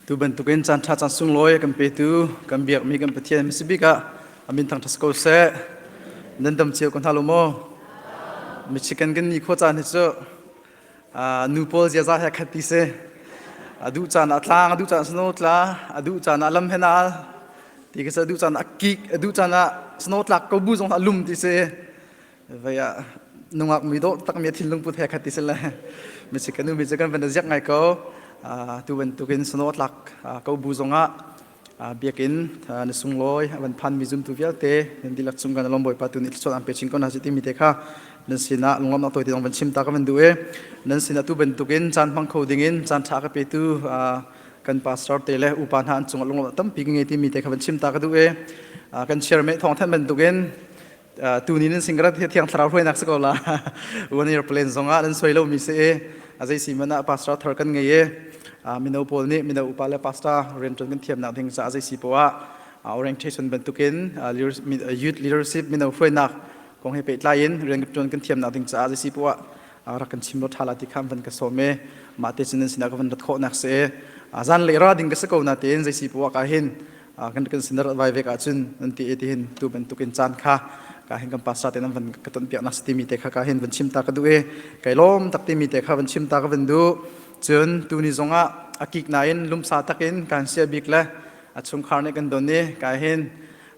Tu bantukin caan ṭha caan sunglawi kan petu kan biakmi kan Pathian mi si bik ah amin thang ṭhas ko seh. Nan dam cio ko hna lo maw? Mi chicken kan ni kho caan hi cu nu pawl ziaza he khat ti si a duh caan ah tlang a duh caan snow tla a duh caan ah lam hen al ti ka a duh caan ah kik a duh caan ah snow tlak ko bu zong ah lum ti si vậy ah nungak mi do tak mi thin lung put he khat ti si le mi si kanu mi si kan van ziak ngai ko tu bantukin snow tlak ko bu zong ah biakinn na sunglawi a van phanmi zumtu vialte nan dihlak cung kan alom bawipa tu nih thluachuah an pe chin ko hna si timi te kha nan sinah lungam na tawite zong van chim ta ka van duh e nan sinah tu bantukin caan hmang kho dingin caan ṭha ka petu kan pastor te le upa hna an cungah lungam tampi ka ngei timi te kha van chim ta ka duh e kan chairman thawng than bantukin tunin in singrat thiang thlarau hruainak si ko la one year plan zong ah nan soi lo mi se azai si mana pastor thar kan ngei e mino paul nih mino upa le pastor rian tun kan thiam nak ding ca azai si po a orientation bantukin youth leadership mino hruainak kong he pe tlai in rian tun kan thiam nak ding ca azai si po a rak kan chim lo thala ti kham van ka so me ma te chin sin ka van rat kho nak se azan le ra ding ka se ko na te in zai si po ka hin kan kan sinar vai vek ahcun nan ti ti hin tu bantuk in caan kha ka hin kan pasa te nan van ka ton piak nak si timi te kha ka hin van chim ta ka du e kai lom tak timi te kha van chim ta ka van du cun tu ni zong ah akik na in lumsa tak in kan sia bik le a chungkhar ne kan don ni ka hin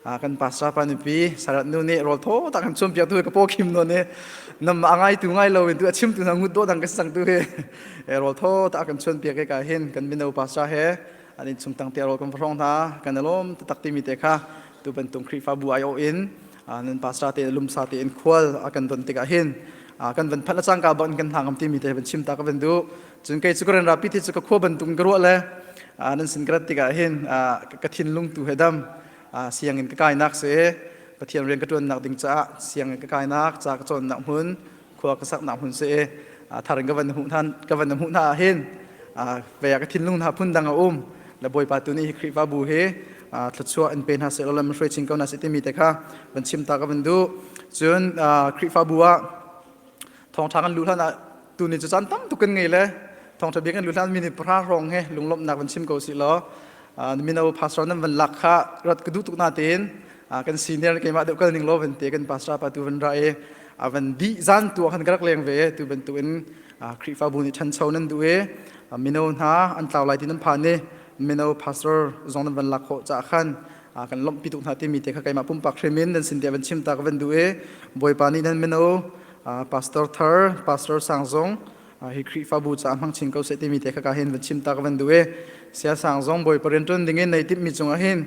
kan pasa pa nu pi sarat nu ne rol tho tak han chum piak tu ka po khim no ne nam ma ngai tu ngai lo tu chim tu na ngut do dang ka sang tu he rol tho tak kan chun piak ke ka hin kan bino pasa he An innchung tang te rawl kan va hrong hna kan alom taktak timi te kha tu bantung Khrihfabu aiawh in nan pasra te lumsa te in khual a kan don tikah hin kan van phat la cangka bang kan hna ngam timi te van chim ta ka van du cun kei cu ka ren rapi ti cu ka khua bantung ka ruah le nan sin ka rat tikah hin ka thinlung tu he dam siangin ka kainak se pathian rian ka tuannak ding caah siangin ka kainak ca ka cawnnak hmun khua ka saknak hmun si i thar in ka van na hmuh ka van na hmuh hna hin vei ka thinlung hna phun dang a um la bawipa tu nih hi Khrihfa bu hi thluachuah in pe hna seh law lam hruai chin ko hna seh timi te kha van chim ta ka van du cun Khrihfa bu ah thawngṭha kan luh hlan ah tu ni cu caan tam tuk kan ngei le thawngṭha bia kan luh hlan mi ni pahra hrawng he lunglawmhnak van chim ko si law mino pastor nan van lak kha rat ka duh tuk na tein kan senior keimah deuh kal ning law van te kan pastor pa tu van ra e a van di zan tu khan ka rak leng ve tu bantuk in Khrihfabu nih ṭhancho nan duh e mino hna an tlau lai ti nan phan e mino pastor zong nan van lak ho cha khan kan lomh pi tuk hna timi te kha keimah pumpak hrimin nan sin dia van chim ta ka van duh e bawipa nih nan mino pastor thar pastor sang zong hi Khrihfabu ca hmang chin ko se timi te kha ka hin van chim ta ka van duh e sia sang zong bawipa rian ṭuan ding in nei tip mi cungah hin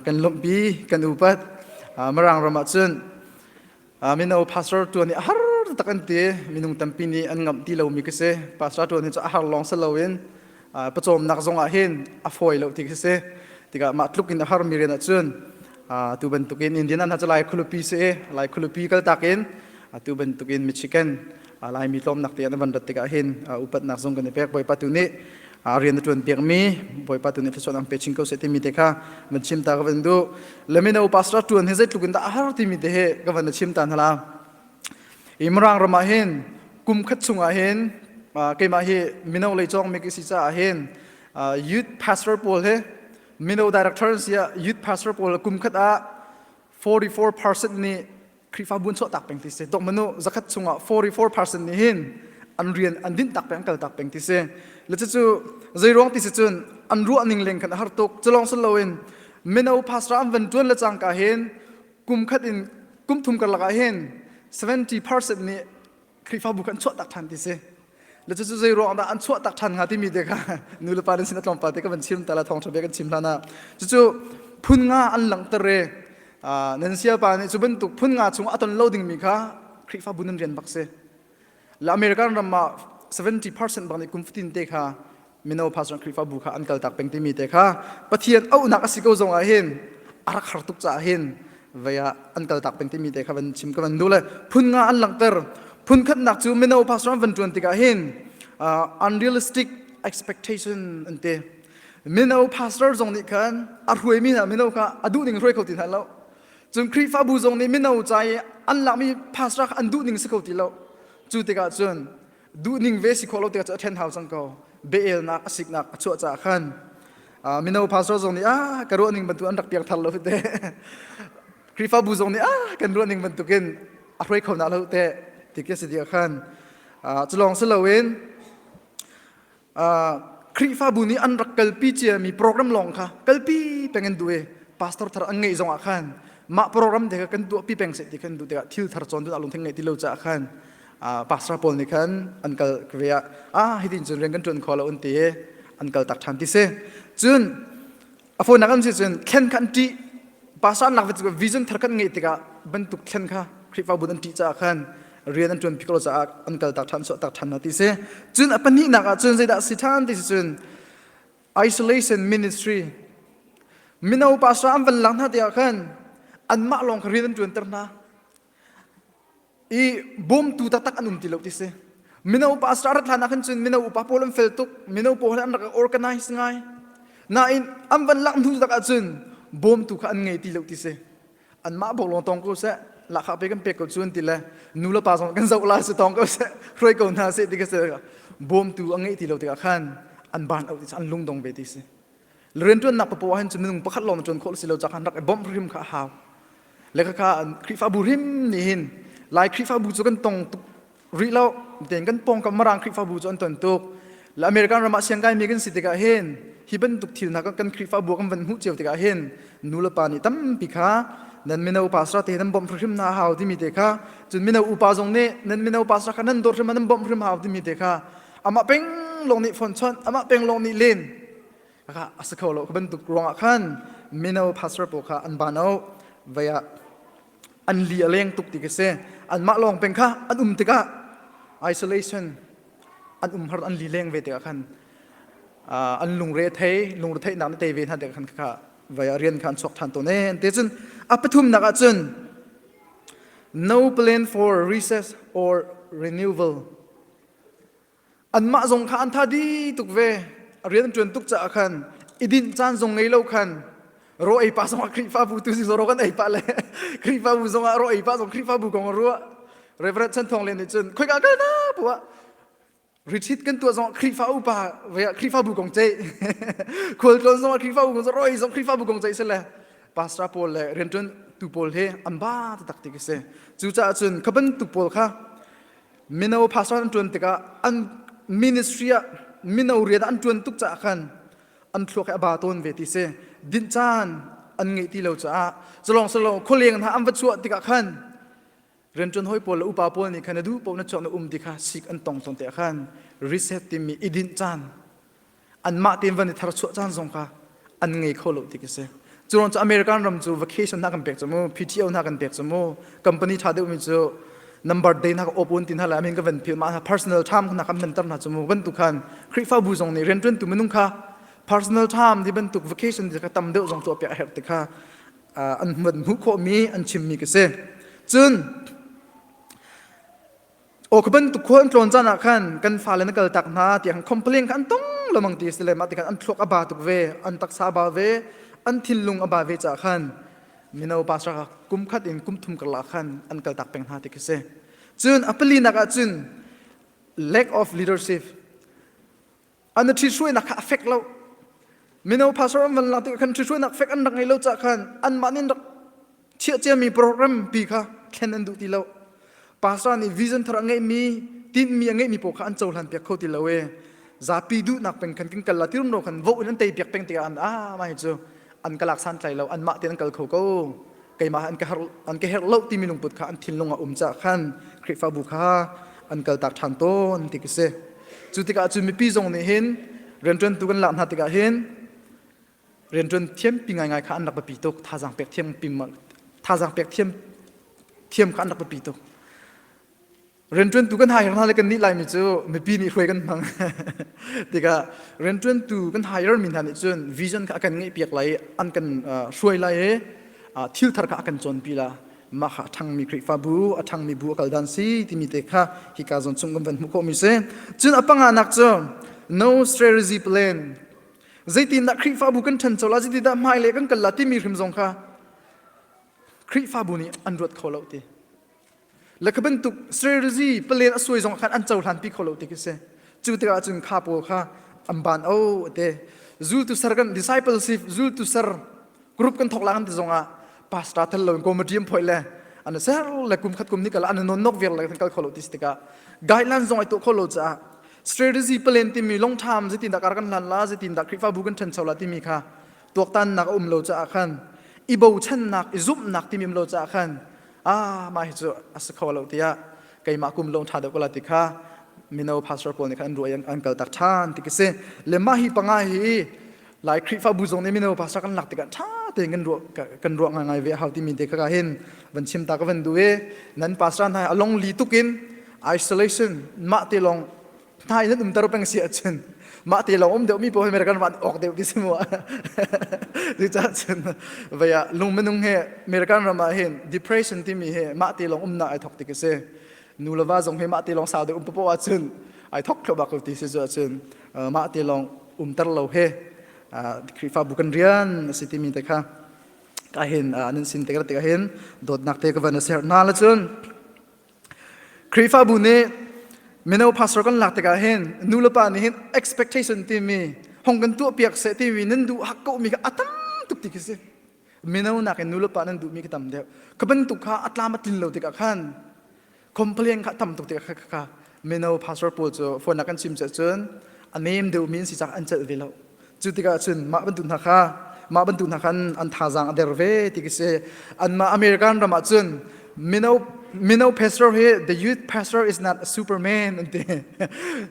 kan lawmhpi kan upat Marang ram ah cun mino pastor ṭuan hi a har tak an ti minung tampi nih an ngamh ti lomi ka si pastor ṭuan hi cu a har lawng si loin pawcawmnak zong ah hin a fawi lo ti ka si tikah mah tluk in a harmi rian ah cun tu bantukin Indian an hna cu lai khulupi si i lai khulupi kaltak in atu bantukin Michigan Laimi tlawmnak te an van rat tikah hin upatnak zong kan i pek Bawipa tu nih rian a tuan piakmi Bawipa tu nih thluachuah ang pe chin ko seh timi te kha van chim ta ka van duh lemina upasra tuan hi zeitluk in dah a har timi te he ka van chim ta hala i Mrang ramah hin kum khat chungah hin keimah hi mino lei cawng mi si caah hin youth pastor pawl he mino director si youth pastor pawl kum khat ah 44% nih Khrihfabu an chuahtak peng ti si. Tok manu zakhat chungah 44% nih hin an rian an dinh tak peng an kal tak peng ti si. Le cu zei ruang ti si cun an ruah ning leng khan a har tuk. Culong sun loin mino pastor an van tuan le cangka hin kum khat in kum thum kar lakah hin 70% nih Khrihfabu kha an chuahtak ṭhan ti si. Le cucu zei ruang dah an chuahtak ṭhan hnga timi te kha nulapa nan sin a tlawmpal te ka van chim ta la thawngṭha bia kan chim hlan ah cucu phun nga an langhter i nan sialpa nih cu bantuk phun nga chung a ton lo dingmi kha Khrihfabu nan rian bak si. La American ram ah 70% bang nih kum fatin te kha mino pastor Khrihfabu kha an kaltak peng timi te kha Pathian auhnak a si ko zong ah hin a rak har tuk caah hin vei ah an kaltak peng timi te kha van chim ka van duh le phun nga an langhter phun khatnak cu mino pastor an van tuan tikah hin uh, unrealistic expectation an te mino pastor zong nih khan a ruaimi hna mino kha a duh ning ruai kho ti hna lo cun Khrihfabu zong nih mino ca i an lakmi pastor kha an duh ning si kho ti lo cu tikah cun duhning ve si khawh lo tikah cu a ṭhen hau cang ko beelnak a siknak a chuah caah khan mino pastor zong nih ah ka ruahning bantuk an rak piak thar lo te Khrihfabu zong nih ah kan ruahning bantukin a hruai kho na lo te ti khi a si dia khan cu lawng si loin Khrihfabu nih an rak kalpi ciami program lawng kha kalpi peng an duh i pastor thar an ngeih zongah khan mah program te kha kan tuahpi peng seh ti kan duh tikah thil thar cawn tu lungthin ngeih ti lo caah khan pastor pawl nih khan an kal ka ve ah ah hitin cun rian kan ṭuan kho lo an ti i an kal tak ṭhan ti si cun a fawinak an si cun thlen kha an ṭih pasarnak vision thar kan ngeih tikah bantuk thlen kha Khrihfa bu an ṭih caah khan rian an ṭuanpi ko caah an kaltak ṭhan suahtak ṭhan hna ti si cun a pahnihnak ah cun zeidah si ṭhan ti si cun isolation ministry mino pastor an van lang hna tiah khan anmah lawng kha rian an ṭuanter hna i bawmtu taktak an um ti lo ti si mino pa asra rat hlan ahkhan cun mino upa pawl an fel tuk mino pawl an rak organize ngai nain an van lak hnu tak ahcun bawmtu kha an ngei ti lo ti si anmah bok long tong ko seh lakha pe kan pek ko cun ti le nu le pa zong kan zoh la se tong ko seh hruai ko hna se ti ka se bawmtu a ngei ti lo tikah khan an ban auh ti an lung dong ve ti si riantuannak ka po ahhin cu minung pakhat lawng na tuan khawh si lo cak han rak i bawmh hrim kha a hau le kha khrihfabu hrim nih hin lai khrihfabu cu kan tong tuk rih lo tein kan pawngkam marang khrihfabu cu an ton tuk le american ram ah siang kai mi kan si tikah hin hi bantuk thil hna kan khrihfabu kan van hmuh cio tikah hin nu le pa nih tampi kha nan mino pastor te nan bawmh hrim na hau timi te kha cun mino upa zong nih nan mino pastor kha nan dawt hrim nan bawmh hrim hau timi te kha amah peng lawng nih phone chawnh amah peng lawng nih len kaka a si kho lo ka bantuk ruang ah khan mino pastor pawl kha an ban o vei ah an li a leng tuk ti ka si an mah lawng peng kha an um tikah isolation an um har an li leng ve tikah khan uh, an lungre thei lungre theihnak na te ve hna tikah khan kaka vei ah rian kha an chuak ṭhan to ne te cun a pathum nak ah cun no plan for recess or renewal anmah zong kha an tha di tuk ve a rian ṭuan tuk caah khan i dinh caan zong ngei lo khan ro ei pa zong ah Khrihfabu tu si zoro kan ei pa le Khrihfabu zong ah ro ei pa zong Khrihfabu kong a ruah Reverend Chan Thawng Lian nih cun khoi ka na puwa retreat kan tuah zong Khrihfa upa ve ah Khrihfabu kong ce khual tlawn zong ah Khrihfabu kong ro ei zong Khrihfabu kong ce se le pastor paul le rianṭuan tu paul he an ba taktik ka si cucaah cun ka bantuk paul kha mino pastor an tuan tikah an ministry ah mino rian an tuan tuk caah khan an thluak he a ba tawn ve ti si dinh caan an ngeih ti lo caah culong culong khualeng hna an va chuah tikah khan riantuan hoi pawl le upa pawl nih khan na duh pawl na chuak na um ti kha sik an tong ton te khan reset timi i dinh caan anmah tein van i tharchuah caan zong kha an ngei kho lo tik a si cu American ram cu vacation hna kan pek cu mu PTO hna kan pek cu mu company ṭha deuhmi cu number day na ka open tin hala amin ka van phil ma na personal time na kam nan tar na chumu ban tu khan khrifabu zong ni rentun tu minung kha personal time di ban tuk vacation di ka tam deuh zong tu pya her ti kha an mud mu kho mi an chim mi ka se chun Aw ka bantuk khua an tlawn caan ah khan kan fale na kal tak hna tiang complain kha an tong lamang ti si le mah tikhan an thluak a ba tuk ve an taksa a ba ve an thinlung a ba ve ca khan mino pastor kha kum khat in kum thum karla khan an kal tak peng hna ti khi si cun a pali nak ah cun lack of leadership an i ṭhihruainak kha a fek lo mino pastor an van lang tikah khan ṭhihruainak fek an rak ngei lo cah khan anmah nih rak chiahciami program pi kha thlen an duh ti lo pastor nih vision thar a ngeihmi tinhmi a ngeihmi paoh kha an cohlan piak kho ti lo e zapi duhnak peng khan kin kal la tirum ro khan voh in an tei piak peng tikah an ah mai cu an ka lak santlai lo anmah te an kal kho ko keimah an ka her an ka herh lo timi lungput kha an thinlung a um ca khan Khrihfabu kha an kal tak ṭhan tawn ti ka si cu tikah cu mipi zong nih hin rianṭuantu kan lak hna tikah hin rianṭuan thiam pi ngaingai kha an rak biapi tuk thazaang pek thiam pim thazaang pek thiam thiam kha an rak biapi tuk rianṭuantu kan hire hna le kan nih laimi cu mipi nih hruai kan hmang tikah rianṭuantu kan hire mi hna nih cun vision kha a kan ngeihpiak lai i an kan hruai lai i thilthar kha a kan cawnpi la mah kha a ṭhangmi Khrihfabu a ṭhangmi bu a kal dan si timi te kha hi ka zawn chung kan van hmuh khawh mi si cun a panganak cu no strategy plan zeitindah Khrihfabu kan ṭhancho la zeitindah hmailei kan kal la timi hrim zong kha Khrihfabu nih an ruat kho lo ti Le kha bantuk strategy palen a suai zong khan an cohlan pi kho lo ti khi si cu tikah cun kha pawl kha an ban o te zultu ser kan discipleship zultu ser group kan thok la kan ti zong ah pastor thel lo in committee phoi le an ser le kum khat kum ni kala an non nok ver le kan kal kho lo ti tikah guideline zong ai to kho lo cha strategy palen timi long term zetin da kar kan lan la zetin da krifa bu kan than chola timi kha tuaktannak a um lo caah khan i bochannak i zumhnak timim lo caah khan ah mah hi cu a si kho lo tiah keimah kum lawng ṭha deuh ka la ti kha mino pastor pawl nih khan an ruai an kaltak ṭhan ti ka si le mah hi panga hi lai khrihfabu zong nih mino pastor kan lak tikah ṭha tein kan ruah kan ruah ngai ve hau timi te kha hin van chim ta ka van du e nan pastor hna a long li tukin isolation mah te long Thai nan umter peng si ahcun mah te lawng um deuh mi pawl hi American van awk deuh ti si mu cucaah cun vaya lung minung he American ram ah hin depression timi hi mah te lawng umnak ai thok tik a si nu le va zong hi mah te lawng sau deuh um popo ahcun ai thok khlo bak ti si cu ahcun mah te lawng umter lo he Khrihfabu kan rian a si timi te kha ka hin nan sin te ka te ka hin dawtnak te ka van a ser hna la cun Khrihfabu nih mino pastor kan lak tikah hin nu le pa nih hin expectation timi hong kan tuahpiak seh timi nan duh hak ko mi kha a tam tuk ti khi si mino nakin nu le pa nan duhmi khi tam deuh ka bantuk kha a tlam a tlin lo tikah khan complain kha tam tuk tikah kha mino pastor pawl cu phone kan chim ceh cun a nem deuhmi an si cak an celh ve lo Cu tikah cun mah bantuk hna kha mah bantuk hna khan an thazaang a der ve ti khi si. Anmah American ram ah cun mino mino pastor hi the youth pastor is not a superman an ti.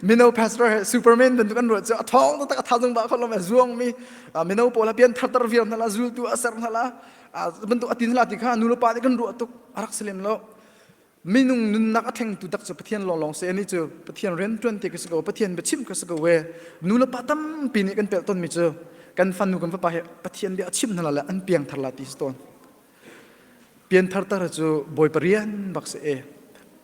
mino pastor hi superman bantuk an ruah cu a thawng taktak a thazung ba khol lo zuang mi mino pawl ha pian thartar viau hna la zultu a ser hna la bantuk a tin hla ti kha nu le pa nih kan ruah tuk a rak si lem lo. minung nunnak a thlengtu tak cu pathian lawnglawng se ani cu pathian rian tuan te ka si ko pathian biachim ka si ko we nu le pa tampi nih kan pelh tonmi cu kan fanu kan fapa he pathian bia a chim hna la an piang thar la ti si ton pian thar tar cu bawi parian bak se e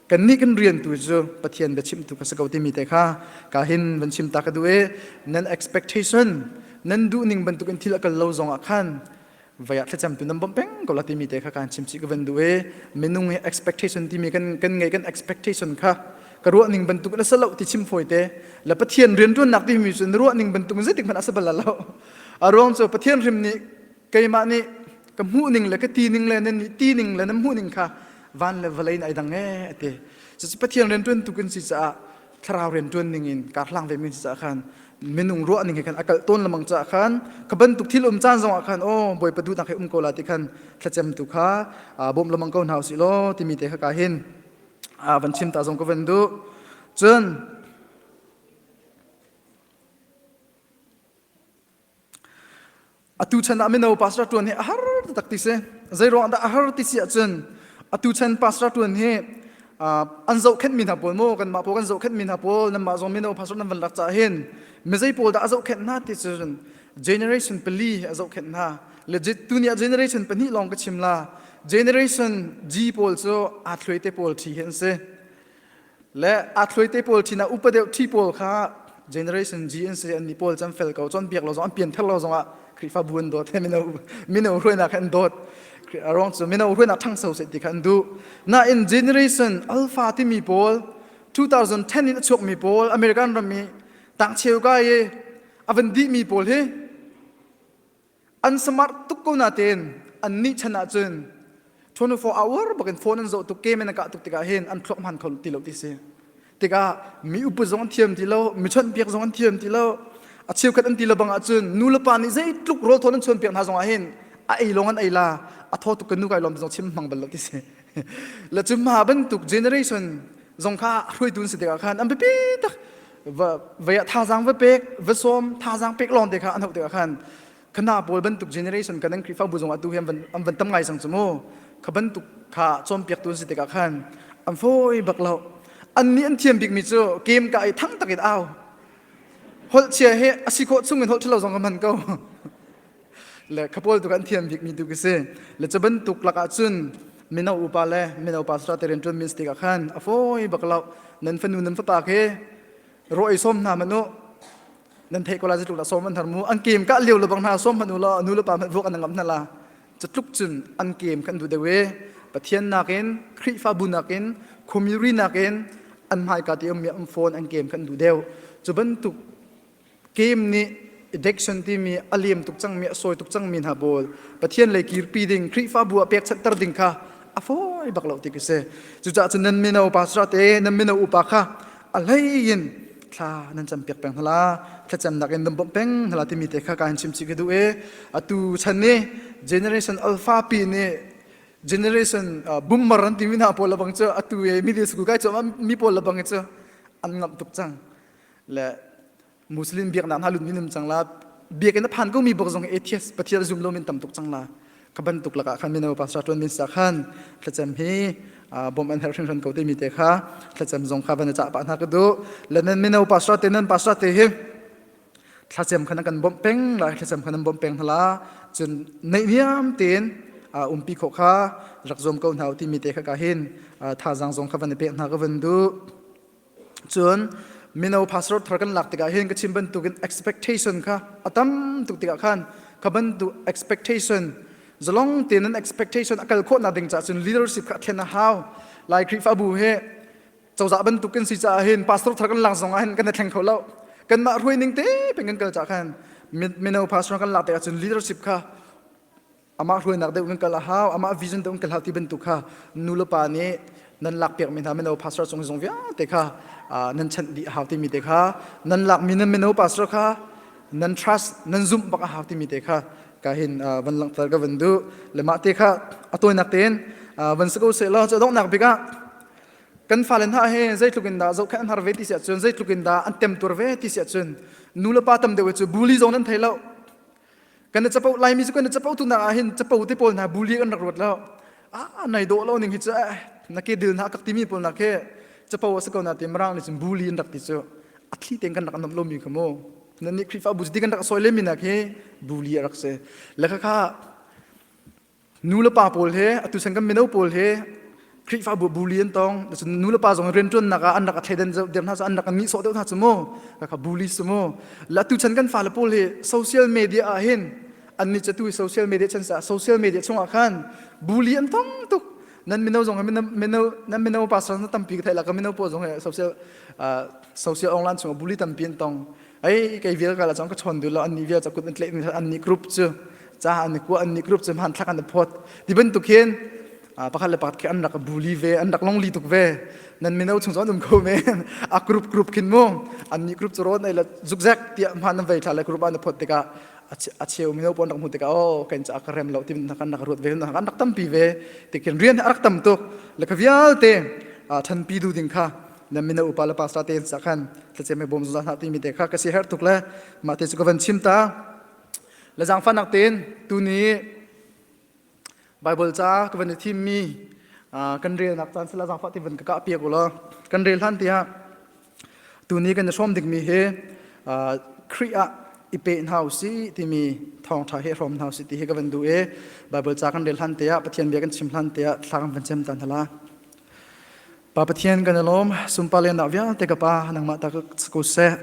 kan ni kan rian tu cu pathian bia chim tu ka si ko timi te kha ka hin van chim ta ka du e nan expectation nan duh ning bantuk in thil akal lo zong ah khan vaya thlacam tu nam bom peng ko la timi te kha kan chim chi ka ven du e minung e expectation timi kan kan ngai kan expectation kha ka ruah ning bantuk la salo ti chim phoi te la pathian rian ruan nak ti mi sun ruah ning bantuk zet man asabala lo arong cho pathian rim ni keima ni ka mu ning le ka ti ning le ni ti ning le nam mu ning kha van le valai na dang e ate so pathian rian tuan tukin si sa thlarau rian ṭuan ning in kaa hlang ve men si cah khan minung ruah ning he khan a kalh tawn lemang cah khan ka bantuk thil um caan zongah khan o bawipa du dang he um ko la ti khan thlacem tu kha bawm lemang ko hna usih law timi te kha ka hin van chim ta zong ka van du cun Atu chan ah mino pastor ṭuan hi a har taktak ti si. Zeiruang dah a har ti si ahcun atu chan pastor ṭuan hi an zohkhenhmi hna pawl maw kanmah pawl kan zohkhenhmi hna pawl nanmah zong mino pastor nan van lak cah hin mizei pawl dah a zohkhenh hna ti cu generation pali a zohkhenh hna legit tuni ah generation pahnih lawng ka chim la generation G pawl cu aa thluaite pawl ṭhi hi an si le a thluaite pawl sin ah upa deuh ṭhi pawl kha generation G an si an mi pawl cam fel ko cun biak lo zong an pian ther lo zong ah Khrihfabu an dawt he mino mino hruainak he an dawt a ruang cu mino hruainak ṭhangso se ti kha an duh nain generation alpha timi pawl 2010 in a chuak mi pawl American ram i tangcheu kai i a van dih mi pawl hi an smart tuk ko natin an nih chan ah cun 24 hour bakin phone an zoh tuk ke men ka tuk tikah hin an thlok man kho ti lo ti si tikah mi upu zong an thiam ti lo mi chawnh piak zong an thiam ti lo a cheukhat an ti lo bang ah cun nu le pa nih zeitluk rawl thawn an chuan piak hna zong ah hin a ei lawng an ei la a tho tuk ka nu kai lom zong chim mang bal lo ti si la chum ha bantuk generation zong kha hruai tun si tikah khan an bipi tak vaya thazang va pek va som thazang pek lawng te kha an hauh te khan khana pawl bantuk generation kan an krifa bu zong atu hi an van tam ngai sang chu mu kha bantuk kha chom piak tu si tikah khan an foi bak lo an ni an thiam bik mi chu kem ka ai thang takin au hol chia he asi ko chung in hol thilo zong man ko le khapawl tu kan thiam bik mi tu ki si le cha bantuk lak ah cun mino upa le mino pa sra te rian tuan min stik ah khan a foi bak lo nan fanu nan fapa ke roi som hna manu nan thei kola ji tluk la som man thar mu an kem ka liu le bang hna som manu la nu le pa man vuak an ngam hna la cha tluk cun an kem kan du dewe pathian nakin khrifa bu nakin community nakin an mai ka ti um mi am phone an kem kan du deu chu bantuk Kim nih addiction timi a liam tuk cangmi a sawi tuk cangmi hna pawl Pathian lei kirpi ding Khrihfabu ah pekchanhter ding kha a fawi bak lo ti khi si. Cucaah cun nan mino pastor te, nan mino upa kha a hlei in thla nan cam piak peng hala thlacamnak in nan bawmh peng hala timi te kha ka in chimchi ka duh i atu chan ni generation alpha pi nih generation boomer an timi hna pawl lebang cu atu i media suku kai cu mi pawl lebang cu an ngamh tuk cang le muslim biaknak hna lut minim cang la biakinn a phan ko mi bok zong atheist pathian zum lo min tam tuk cang la ka ban tuk laka khan mino pastor tuan min sa khan thlacem hi bom an her hrin hran ko te mi te kha thlacem zong kha ban cha pa na ka du lenan mino pastor te nan pastor te hi thlacem khana kan bom peng la thlacem khana bom peng hala chun nei niam tin umpi kho kha rak zom ko hnaw ti mi te kha ka hin tha zang zong kha van pe na ka van du cun mino pastor thar kan lak tikah hin ka chim bantukin expectation kha a tam tuk tikah khan kha bantuk expectation zalong tein expectation a kal khawhnak ding caah cun leadership kha thlen a hau lai Khrihfabu he cozah bantukin si caah hin pastor thar kan lak zong ah hin kan thleng kho lo kanmah ruai ning te peng kan kal caah khan mino pastor kan lak tikah cun leadership kha amah hruainak deuh kan kal a hau amah vision deuh kan hlau ti bantuk kha nulepa nih nan lakpiakmi hna mino pastor cung zong vialte kha nan chanh dih a hau timi te kha nan lakmi nan mino pastor kha nan trust nan zumh bak a hau timi te kha ka hin van langhter ka van du le mah te kha a tawinak tein van sa ko se law cu donghnak bik ah kan fale hna he zeitlukin dah zoh khan an har ve ti si ahcun zeitlukin dah an temtur ve ti si ahcun nu le pa tam deuh cu bully zong nan thei lo kan na capo laimi cu kan na capo tu nak ah hin capo te pawl hna buli kan rak ruat lo a nai dawh lo ning hi cu na ke dil hna kak timi pawl nak hi capo a si ko na ti mrang ni cun buli in rak ti cu a thli ten kan rak nam lo mi kha mu nan nih khrifa bu ti kan rak soi le mi nak hi buli a rak si lekha kha nulepa pawl he atu san kan mino pawl he Khrihfabu bu li an tong cun nulepa zong rianṭuannak ah an rak a thleidan der hna cu an rak a mi sawh deuh hna cu mu ka bu li su mu la tu chan kan fale pawl hi social media ah hin an ni catu social media chan sa social media chungah khan bu li an tong tuk nan mino zong he mino nan mino pastor na tampi ka thai la ka mino pawl zong he social social online chungah bu li tampi an tong ai kai vial ka la chong ka chon du lo an ni vial cha kut an tle an ni group chu cha an ni ku an ni group chu man thak an phot ti ban tuk hin a pakhat le pakhat ke an rak bully ve an rak longli tuk ve nan mino chung zon um ko me a group group khin mu an ni group chu ron ai la zugzak tia man an vai thla le group an phot te ka a cheu mino pon rak mu te ka o ken cha ka rem lo tim na kan rak ruat ve na kan rak tam pi ve te ken rian rak tam tuk le ka vial te than pi du ding kha na mino upa le pastor te sa khan thlace me bom zuzah na ti mi te kha ka si her tuk le mah te chu ka van chim ta le zang fan nak ten tuni bible ca ka van thim mi kan rel nak chan sela zang fa ti van ka ka pia ko la kan rel hlan ti ha tuni kan som dik mi he kria ipe na si ti mi thong tha he rom na si ti he ka van du e bible ca kan rel hlan te ha pathian bia kan chim hlan te ha thla kan van chem tan hala Pa Pathian kan i lawm sunpa lennak vialte ka pa nangmah ta ko seh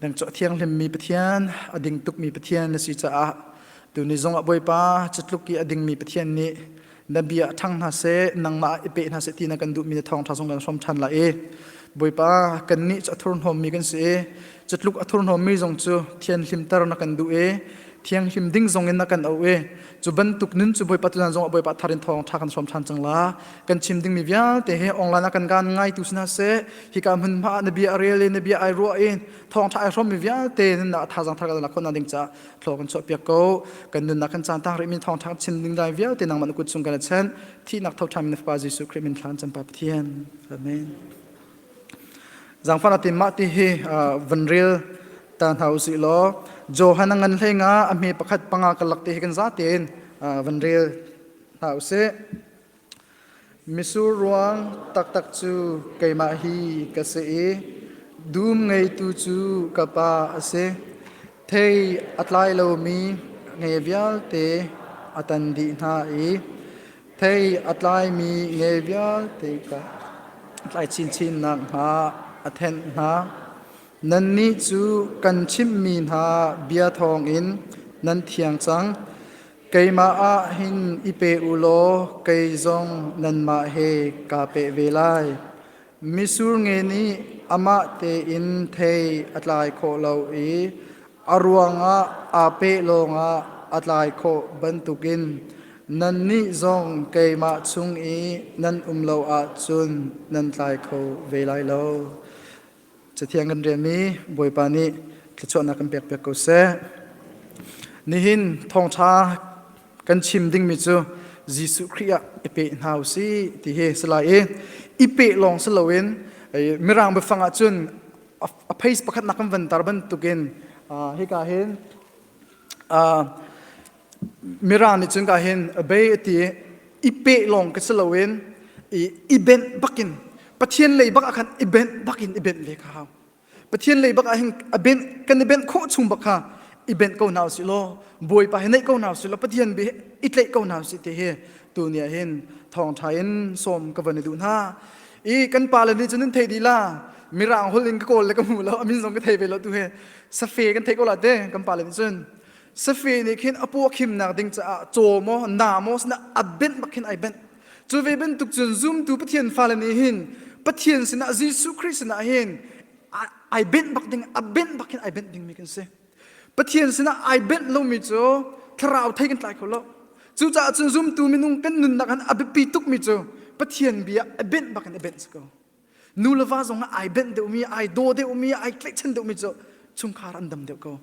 nang cu a thianghlimmi Pathian a ding tukmi Pathian na si caah tuni zongah Bawipa cutluk i a dingmi Pathian nih na bia a ṭhang hna seh nangmah i peh hna seh ti na kan duhmi na thawngṭha zong kan hrawm ṭhan lai i Bawipa kannih cu a thurhnawmmi kan si i cutluk a thurhnawmmi zong cu thianhlimter na kan duh i thianghlim ding zongin na kan auh i cu bantuk nun cu Bawipa tulan zongah Bawipa thar in thawngṭha kan hrawm ṭhan cang la kan chim dingmi vialte he online ah kan gan ngaitu si hna seh hika hmun hma na bia rel in na bia ai ruah in thawngtha ai hrawmmi vialte nan nak thazang thar kan khona ding ca thlo kan chuah piak ko kan nunnak kan caan tang rimi thawngtha chin ding dai vialte nang man kut chung kan chen thi nak tho thamin fa Jesu Christ min thlan champa pathian amen zangfana tim ma ti hi van ril ta hau si lo johan ngan hlenga a me pakhat panga kalak te hi kan zatin van ril hau se Misur ruang taktak cu keimah hi ka si i dum ngeitu cu ka Pa a si. Thei a tlai lomi nge vialte a tan dih hna i thei a tlaimi nge vialte kha tlai chinchin nakhnga a thenh hna. Nannih cu kan chimhmi hna bia thawngin nan thiang cang. Keimah ah hin i pe u law kei zong nanmah he kaa peh ve lai. Misur nge nih amah tein thei a tlai khawh lo i a ruangah aa peh lawngah a tlai khawh bantukin nannih zong keimah chung i nan um lo ahcun nan tlai kho ve lai lo. Cathiang kan rian mi Bawipa nih thluachuahnak kan pek piak ko seh. Nihin thawngtha kan chim dingmi cu Jesuh Khrih ah i pe hna u si ti hi si lai i i pe lawng si loin mirang biafang ah cun a phais pakhat nak kan vantar bantukin hika hin Mirang nih cun ka hin obey a ti i i peh lawng ka si loin i i benh bakin Pathian lei bakah khan i benh bakin i benh ve ka hau. Pathian lei bakah hin a benh kan i benh khawh chung bak kha i benh ko hna usih law Bawipa hi neih ko hna usih law Pathian bia hi i tleih ko hna usih ti hi tu ni ah hin thawngṭha in sawm ka van i duh hna. I kan pale nih cun an thei dih la Mirang holh in ka kawl le ka hmu lo amin zong ka thei ve lo tu hi safe kan thei ko la te kan pale nih cun. safe nih khin a puah khimnak ding caah caw maw namos na abenh bak khin ai benh cu ve bantuk cun zumtu pathian fale nih hin pathian sinah Jesuh Christ sinah hin ai benh bak ding abenh bak khin ai benh dingmi kan si pathian sinah ai benh lomi cu thlarau thei kan tlai kho lo cucaah cun zumtu minung kan nunnak han abiapi tukmi cu pathian bia a benh bak in a benh si ko nu le va zong ai benh deuhmi ai daw deuhmi ai tlaihchan deuhmi cu chungkhar an dam deuh ko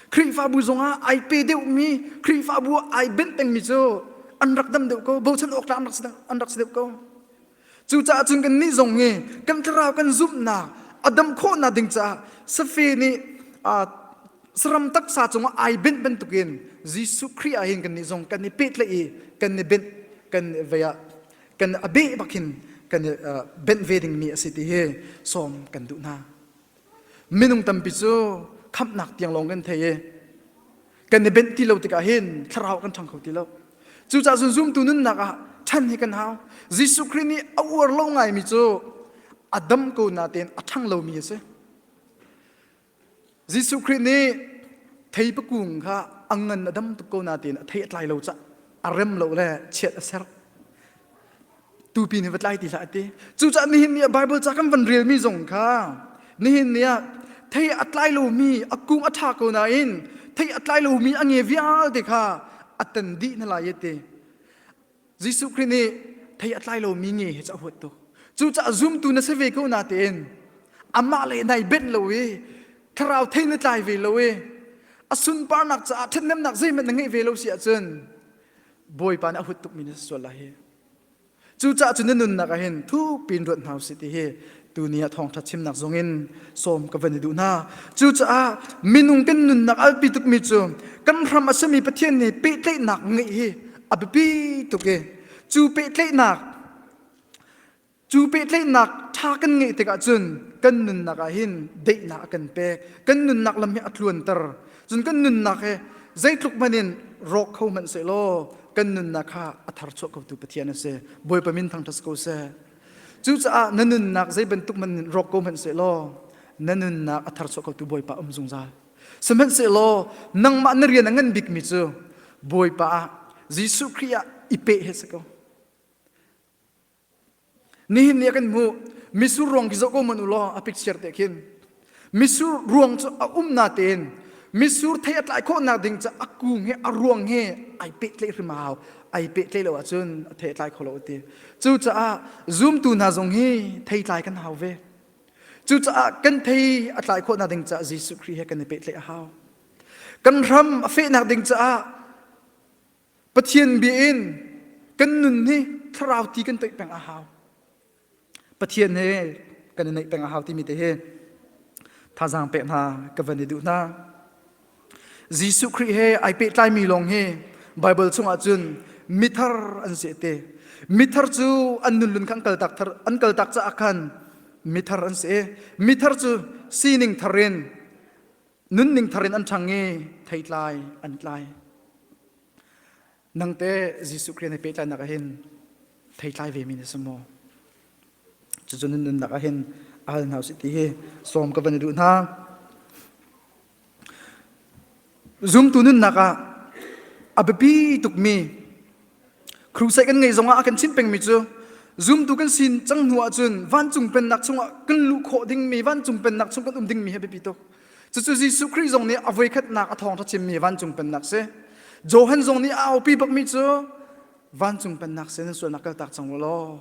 Khrihfabu zongah ai pe deuhmi Khrihfabu ah ai benh pengmi cu an rak dam deuh ko bochan awk tlak an rak si deuh ko cucaah cun kannih zong hi kan thlarau kan zumhnak a dam khawhnak ding caah safe nih saram taksa cungah ai benh bantukin Jesuh Khrih ah hin kannih zong kan i pehtlaih i kan i benh kan vei ah kan a beh bak hin kan i benh ve dingmi a si ti hi sawm kan duh hna. minung tampi cu khamhnak tiang lawng kan thei i kan i benh ti lo tikah hin thlarau kan ṭhang kho ti lo cucaah cun zumtu nunnak ah chan hi kan hau Jesuh Khrih nih a uar lo ngaimi cu a dam ko na tein a ṭhang lomi a si Jesuh Khrih nih thei pakung kha a ngan a dam tuk ko na tein a thei a tlai lo cah a rem lo le chiat a ser tupi nih va tlai ti hlah a ti cucaah nihin ni ah Bible ca kan van relmi zong kha nihin ni ah thei a tlai lomi a kung a ṭha ko nain thei a tlai lomi a nge vialte kha a tan dih na lai te Jesuh Khrih nih thei a tlai lomi nge he ca huat tu cucaah zumtu na si ve ko na tein amah le nai benh lo i thlarau thei na tlai ve lo i a sunparnak caah ṭhatnemnak zeihmanh na ngeih ve lo si ahcun Bawipa nih a hut tukmi na sual lai hi. Cucaah cu na nunnak ah hin thu pin ruat hna usih ti hi tuni ah thawngṭha chimnak zong in sawm ka van i duh hna. Cucaah minung kan nunnak alpi tukmi cu kan ram a sami Pathian nih pehtlaihnak ngeih hi a biapi tuk i cu pehtlaihnak Cu pehtlaihnak ṭha kan ngeih tikah cun kan nunnak ah hin daihnak a kan pek. Kan nunnak lam hi a tluanter. Cun kan nunnak hi zeitluk hmanh in rawk kho hmanh sehlaw kan nunnak kha a tharchuah khotu Pathian a si. Bawipa min thangṭhat ko seh. Cucaah na nunnak zei bantuk hmanh in rawk ko hmanh sehlaw na nunnak a tharchuah khotu Bawipa um zungzal. Sihmanhsehlaw nangmah na rian a ngan bikmi cu Bawipa ah Jesuh Khrih ah i peh he si ko. nihin ni kan hmuh misur ruang ki zoh ko man ulaw a picture te khin misur ruang cu a um na tein misur thei a tlai khawh nak ding ca a kung he a ruang he ai pe tle hrimau ai pe tle lo ahcun a thei tlai kho lo ti cucaah zoomtu hna zong hi thei tlai kan hau ve cucaah kan thei a tlai khawh nak ding ca Jesuh Khrih he kan i pe tle a hau kan ram a feh nak ding caah Pathian bia in kan nun hi thlarau ti kan toih peng a hau. Pathian he kan i neih peng a hau timi te hi thazaang pek hna ka van i duh hna. Jesuh Khrih he ai pehtlaimi lawng hi Bible chungah cun mithar an se te. Mithar cu an nunlun kha an kaltak thar an kaltak caah khan mithar an si. Mithar cu sining thar in nunning thar in an ṭhang i thei tlai an tlai nangte Jesuh Khrist na pehtlainak ah hin thei tlai ve mi na si maw cucu nun nunnak ah hin al hna usih ti hi sawm ka van i duh hna zumtu nunnak ah a biapi tukmi Crusade kan ngeih zongah a kan chimh pengmi cu zumtu kan sin cang hnu ahcun vancung pennak chungah kan luh khawh dingmi vancung pennak chung kan um dingmi hi biapi tuk. Cucu Jesuh Khrih zong nih a voikhatnak a thawngṭha chimmi vancung pennak si. Johan zong nih a aupi bakmi cu vancung pennak sin nan sualnak kaltak cang u law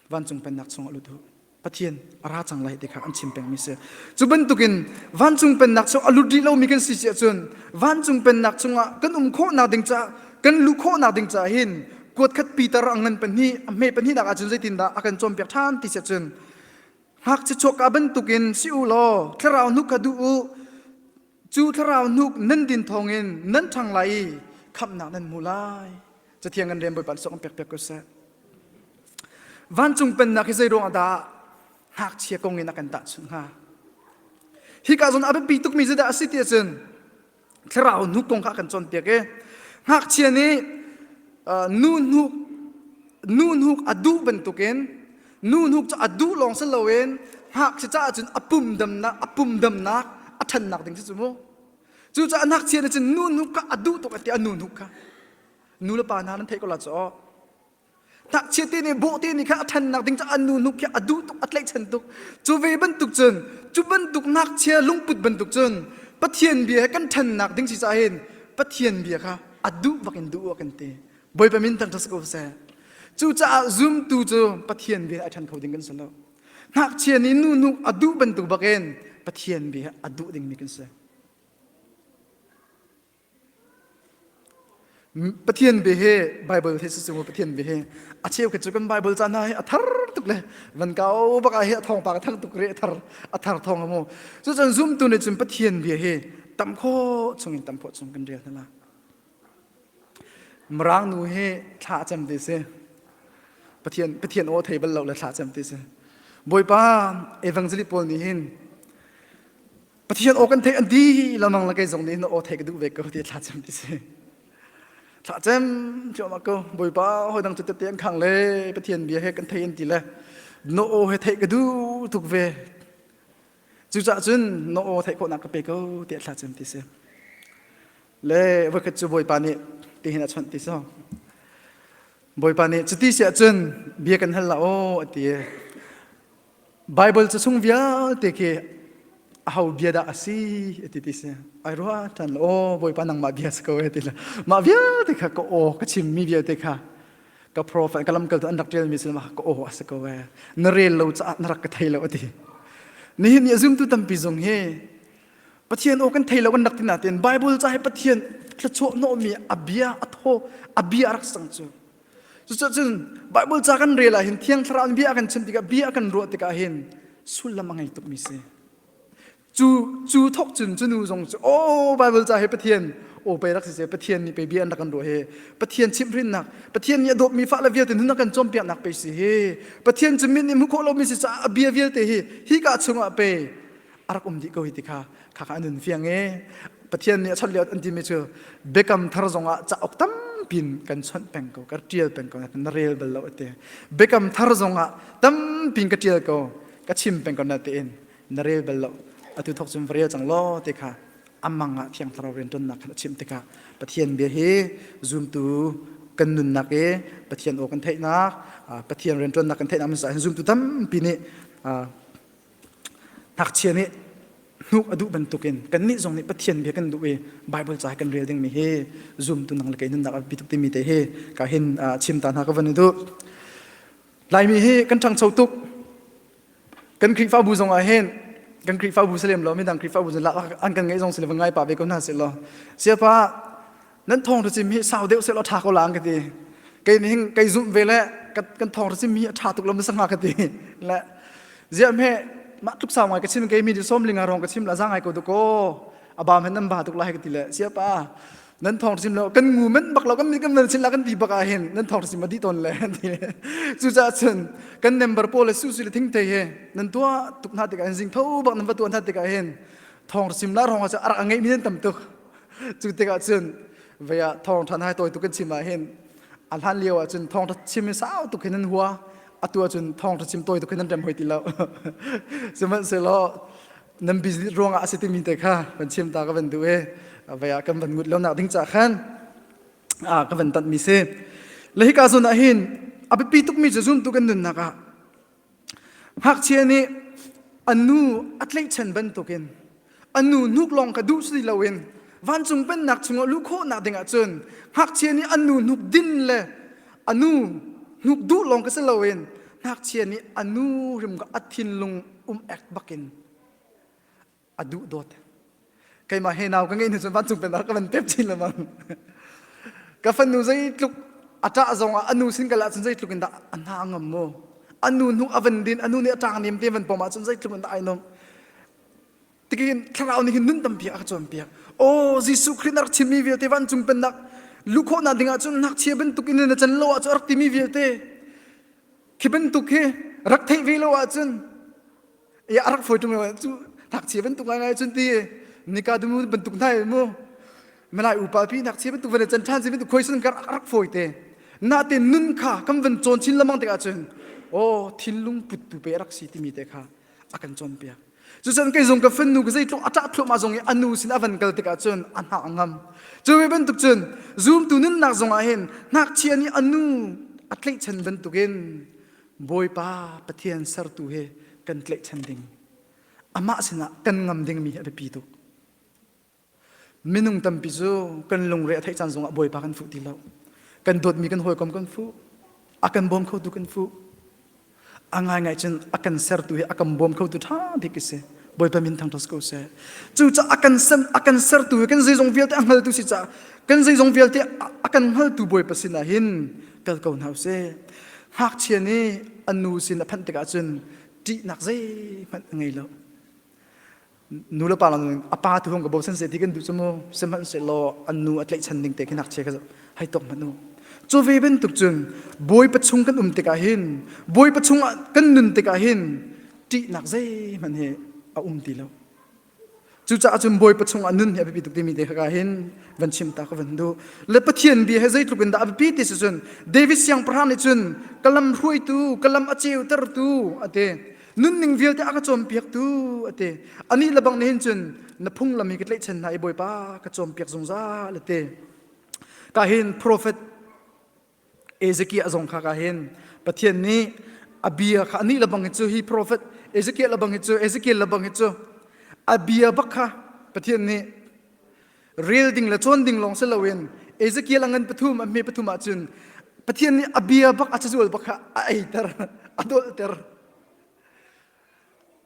vancung pennak chungah lut u pathian a ra cang lai ti kha an chim pengmi si cu bantukin vancung pennak chung a lut rih lomi kan si si ahcun vancung pennak chungah kan um khawhnak ding caah kan luh khawhnak ding caah hin kuat khat Peter a ngan pahnih a hme pahnihnak ahcun zeitindah a kan cawnpiak ṭhan ti si ahcun ngakchia chuakka bantukin si u law thlarau nuk kha duh u cu thlarau hnuk nan din thawngin nan ṭhang lai i khamhnak nan hmu lai cathiang an rem bawipa sawk an pekpek ko seh vancung pennak hi zei ruangah dah ngakchia kong in a kan tahchunh hnga hika zon a biapi tukmi cu dah a si ti ahcun thlarau hnuk kong kha a kan cawnpiak i ngakchia nih nu hnuk nu hnuk a duh bantukin nuhnuk cu a duh lawng si loin ngakchia caah cun a pumdamnak a pumdamnak a ṭhannak ding si cu mu cucaah ngakchia nih cun nuhnuk kha a duh tuk tiah a nuhnuk kha nu le pa hna nan theih ko la cu ngakchia te nih bawhte nih kha a ṭhannak ding caah a nuhnuk khi a duh tuk a tlaihchan tuk cu ve bantuk cun cu bantuk ngakchia lungput bantuk cun pathian bia he kan ṭhannak ding si cahin pathian bia kha a duh bak in duh a kan ti Bawipa min tang ṭha ko seh. Cucaah zumtu cu Pathian bia a ṭhan kho ding kan si lo. Ngakchia nih nu nu a duh bantuk bakin Pathian bia a duh dingmi kan si. Pathian bia he Bible he sisung Pathian bia he a cheu ke cu kan Bible ca hna hi a thar tuk le van kau baka hi a thong pa thang tuk re a thar a thar thong amu cu cun zumtu nih cun Pathian bia hi tam kho chungin tam kho chung kan rial hna la Mirang nu hi thla a cem te si. Pathian, Pathian aw thei bal lo le thla a cem te si. Bawipa evangelist pawl nih hin Pathian aw kan thei an di lamang la kei zong nih aw thei ka duh ve ko ti thla cem ti si. Thla cem cuam ko Bawipa hoi dang tete an khang le Pathian bia he kan thei an ti le no aw he thei ka du tuk ve. Cucah cun no aw thei khawhnak ka pe ko ti thla cem ti si. le voikhat cu bawipa nih tihin a chawnh ti so bawipa nih cuti si ahcun bia kan hal la aw a ti bible cu chung vialte khi a ho bia dah a si a ti ti si ai rua ṭan lo aw bawipa nangmah bia si ko e ti le mah vialte kha ka aw ka chimmi vialte kha ka profet ka lamkaltu an rak ṭialmi sin ka aw a si ko e na rel lo caah na rak ka thei lo a ti nihin ni a zumtu tampi zong hi Pathian aw kan thei lo an rak tina ten Bible ca hi Pathian thluachuah hnawhmi a bia a thaw a bia a rak sang cu cucun Bible ca kan rel ahhin thiang thlarau in bia kan chim tikah bia kan ruah tikah hin sullam a ngei tukmi si cu cu thok cun cu nu zong cu o Bible ca hi Pathian o pei rak si se Pathian nih pei bia an rak kan ruah hi Pathian chimhrinnak Pathian nih a dawtmi fah le vialte nun a kan cawnpiaknak pei si hi Pathian cu mit nih hmu khawh lomi si caah a bia vialte hi hi ka chungah pei a rak um dih ko hi ti kha khakha an hun fiang e pathian nih a chawnh lio an timi cu biakam thar zong ah cauk tampi in kan chawnh peng ko kan tial peng ko na rel bal lo te biakam thar zong ah tampi ka tial ko ka chim peng ko na te in na rel bal lo atu thok chun vrel chang lo te kha amang ah thiang thlarau rian tonnak khan a chim tikha pathian bia hi zoomtu kan nunnak e pathian o kan theihnak pathian rian tonnak kan theihnak min sa zumtu tampi nih Ngakchia nih hnuk a duh bantukin kannih zong nih Pathian bia kan duh i Bible ca kan rel dingmi hi zumtu nang le kei nunnak a tuk timi te hi ka hin chim ta hna ka van i duh. Laimi hi kan ṭhangcho tuk. Kan Khrihfabu zong ah hin kan Khrihfabu si lem lo midang Khrihfabu zun lak an kan ngaih zong si le ngai pa ve ko hna si law siapa nan thawng hracim hi sau deuh seh law ṭha ko lang ka ti kei ning kei zumh ve le kan thawng hracim hi a ṭha tuk lam sa hnga ka ti le ziah me mah tluk sau ngai ka chin kei mi di som linga rong ka chim la za ngai ko du ko abam hen nan ba tuk lai ka ti le sia pa nan thong sim lo kan ngu men bak lo kan kan nan sin la kan ti bak a hin nan thong sim ma di ton le chu cha chun kan member po le su su le thing te he nan tua tuk na ti ka hin zing tho bak nan va tuan ta ti ka hin thong sim la rong a cha arak ngai mi nan tam tuk cu tikah cun ve ah thawng ṭhan hai tawi tuk in chim ah hin a hlan lio ah cun thawng ṭha chim hi sau tuk hin an hua atu ah cun thawng ṭha chim tawi tuk hin an rem hoi ti lo sihmanhsehlaw nan business ruang ah a si timi te kha van chim ta ka van duh i ve ah kan van ngut lo nak ding ca khan ka van tanh mi si le hika zun ah hin a biapi tuk mi cu zum tuk in nunnak ah Ngakchia nih an nu a tlaihchan bantukin an nu hnuk lawng ka duh si loin vancung pennak chungah luh khawhnak dingah cun ngakchia nih an nu hnuk din le a nu hnuk duh lawng ka si loin ngakchia nih a nu rim a thinlung um ek bakin a duh dawt keimah he nau ka ngeih hnu cun vancung penar ka van tep chin lemang ka fanu zeitluk a ṭah zong ah a nu sin kal ahcun zeitluk in dah a hna ngam maw a nu hnuk a van din a nu nih a ṭang nem te van pom ahcun zeitluk in dah ai nong tikin thlarau nih hin nun tampiak a ka cawnpiak aw Jesuh Khrih na rak chimmi vialte vancung pennak lukhawhnak ding ahcun ngakchia bantuk in na can lo ahcun a rak timi vialte khi bantuk hi rak theih ve lo ahcun ya arak foi tum lo cu thak che ban tuk lai ngai cun ti nika dumu ban tuk nai mu malai upa pi nak che ban tuk vane chan than se ban tuk khoi sun kar arak foi te na te nun kha kam van chon chin lamang te ka chun o thilung put tu pe arak si timi te kha akan chon pe cu chan kai zong ka fanu ka zei tlok ata thlo ma zong i anu sin avan kal tika chun ana ngam cu me ban tuk chun zoom tu nun nak zong a hin nak chi ani anu atlei chan ban tukin Bawipa Pathian sertu he kan tlaihchan ding. Amah sinah kan ngam dingmi a biapi tuk. Minung tampi cu kan lungre a theih caan zongah Bawipa kan fuh ti lo. Kan dawtmi kan hawikom kan fuh. A kan bawm khotu kan fuh. A ngaingai cun a kan sertu he a kan bawm khotu ṭha bik a si. Bawipa min thang ṭhas ko seh. Cucaah a kan sen a kan sertu he kan zeizong vialte a hngaltu si caah kan zeizong vialte a kan hngaltu Bawipa sinah hin kal ko hna sih ngakchia nih a nu sin a phanh tikah cun ṭihnak zeihmanh a ngei lo nu le pa lang a pa tu hong ka bosan se ti kan duh cu mu sihmanhsehlaw an nu a tlaihchan ding te khi ngakchia ka hei tok hmanh u cu ve bantuk cun bawi pachung kan um tikah hin bawi pachung ah kan nun tikah hin ṭihnak zeihmanh hi a um ti lo Cucaah cun Bawipa chungah nun hi a biapi tuk timi te kha hin van chim ta ka van duh. Le Pathian bia he zeitluk in dah a biapi ti si cun David siangpahrang nih cun ka lam hruaitu, ka lam a ceutertu a ti. Nunning vialte a ka cawnpiaktu a ti. Anih le bang nih hin cun na phunglam hi ka tlaihchan hna i Bawipa ka cawnpiak zungzal a ti. Ka hin profet Ezekiel zong kha ka hin Pathian nih a bia kha ani lebang hi cu hi profet Ezekiel lebang hi cu Ezekiel lebang hi cu a bia bak kha Pathian nih rel ding le cawn ding lawng si loin Ezekiel a ngan pathum a hme pathum ahcun Pathian nih a bia bak a cazual bak kha a eiter a dolter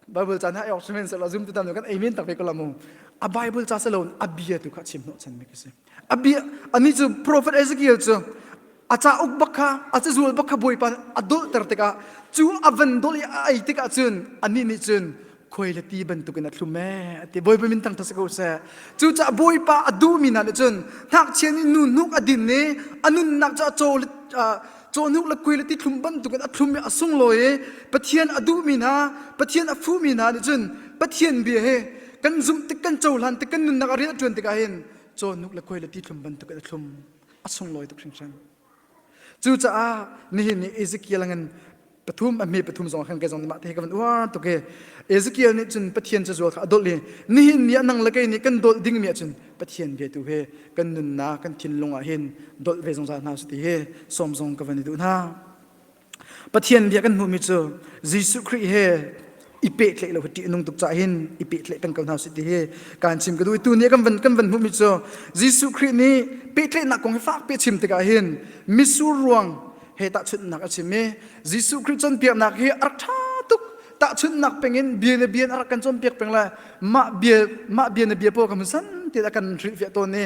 Bible ca na ai ok sihmanhsehlaw zum tutan kan amen tak ve ko lamu a Bible ca se lo a bia tu kha chim hnawh chan mi kisi a bia ani chu prophet Ezekiel chu a cha uk bak kha a cha zual bak kha boipa a dol ter tikah chu a van dol i a ai tikah cun ani nih cun khoi le ti bantukin a thlum e ati boipa min tang thasa ko se chu cha boipa a du mi na le cun thak chian i nu hnuk a din ni a nun nak cha chaw cawhnuk le kui le tithlum bantukin a thlum i a sunglawi i Pathian a duhmi hna Pathian a fuhmi hna nih cun Pathian bia hi kan zumh tik kan cohlan tik kan nunnak a rian a ṭuan tikah hin cawhnuk le kui le tithlum bantukin a thlum a sunglawi tuk hringhran cucaah nihin ni Ezekiel angin pathum a me pathum zong khan ke zong mah te ka van uar to ke Ezekiel nih cun pathian ca zual kha adol i nihin ni anang le kei nih kan dol ding mi cun pathian ve tu he kan nunna kan thinlung ah hin dol ve zungzal hna su ti he som zong ka van i du hna pathian bia kan hmuh mi cu Jesuh Christ he i pehtlaih lo hi ṭih nung tuk ca hin i pehtlaih peng ko hna usih ti hi kaan chim ka duh tu ni kan van kan van hmuhmi cu Jesuh Khrih nih pehtlaihnak kong hi fak pe chim tikah hin misur ruang he tahchunhnak a chim i Jesuh Khrih cawnpiaknak hi a rak ṭha tuk tahchunhnak pengin bia le bia a rak kan cawnpiak peng lai mah bia mah bia le bia pawl kan hun san tiah a kan hrilhfiah tawn i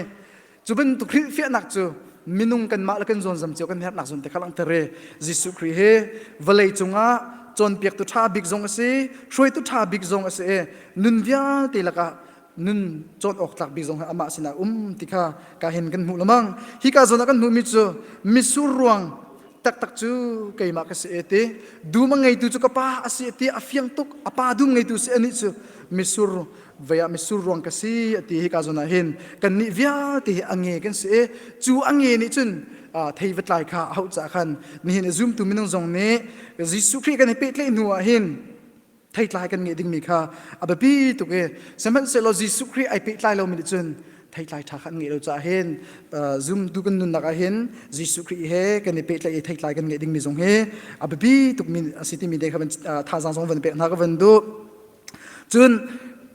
Cu bantuk hrilhfiahnak cu minung kanmah le kan zawnzam cio kan herhnak zun te kha langter e Jesuh Khrih hi vawlei cungah cawnpiaktu ṭha bik zong a si hruaitu ṭha bik zong a si e nun vialte lakah nun cawn awk tlak bik zong hi amah sinah um ti kha ka hin kan hmuh lamang hi ka zawn ah kan hmuhmi cu misur ruang taktak cu keimah ka si e ti dum a ngeitu cu ka pa a si e ti a fiang tuk a pa dum ngeitu si anih cu misur vei ah misur ruang ka si ti hi ka zon ah hin kan nih vialte hi ange kan si i cu ange nih cun thei va tlai kha hau ca khan nihin i zum tu minung zong nih Jesuh Khrih kan i pehtlaih hnu ah hin thei tlai kan nge dingmi kha a biapi tuk i sihmanhsehlaw Jesuh Khrih ai pehtlai lomi nih cun theitlai ṭha khan ngeih lo caah hin zumtu kan nunnak ah hin Jesuh Khrih he kan i pehtlaih i theitlai kan ngeih dingmi zong hi a biapi tukmi a si timi te kha thazaang zong van pek hna ka van duh Cun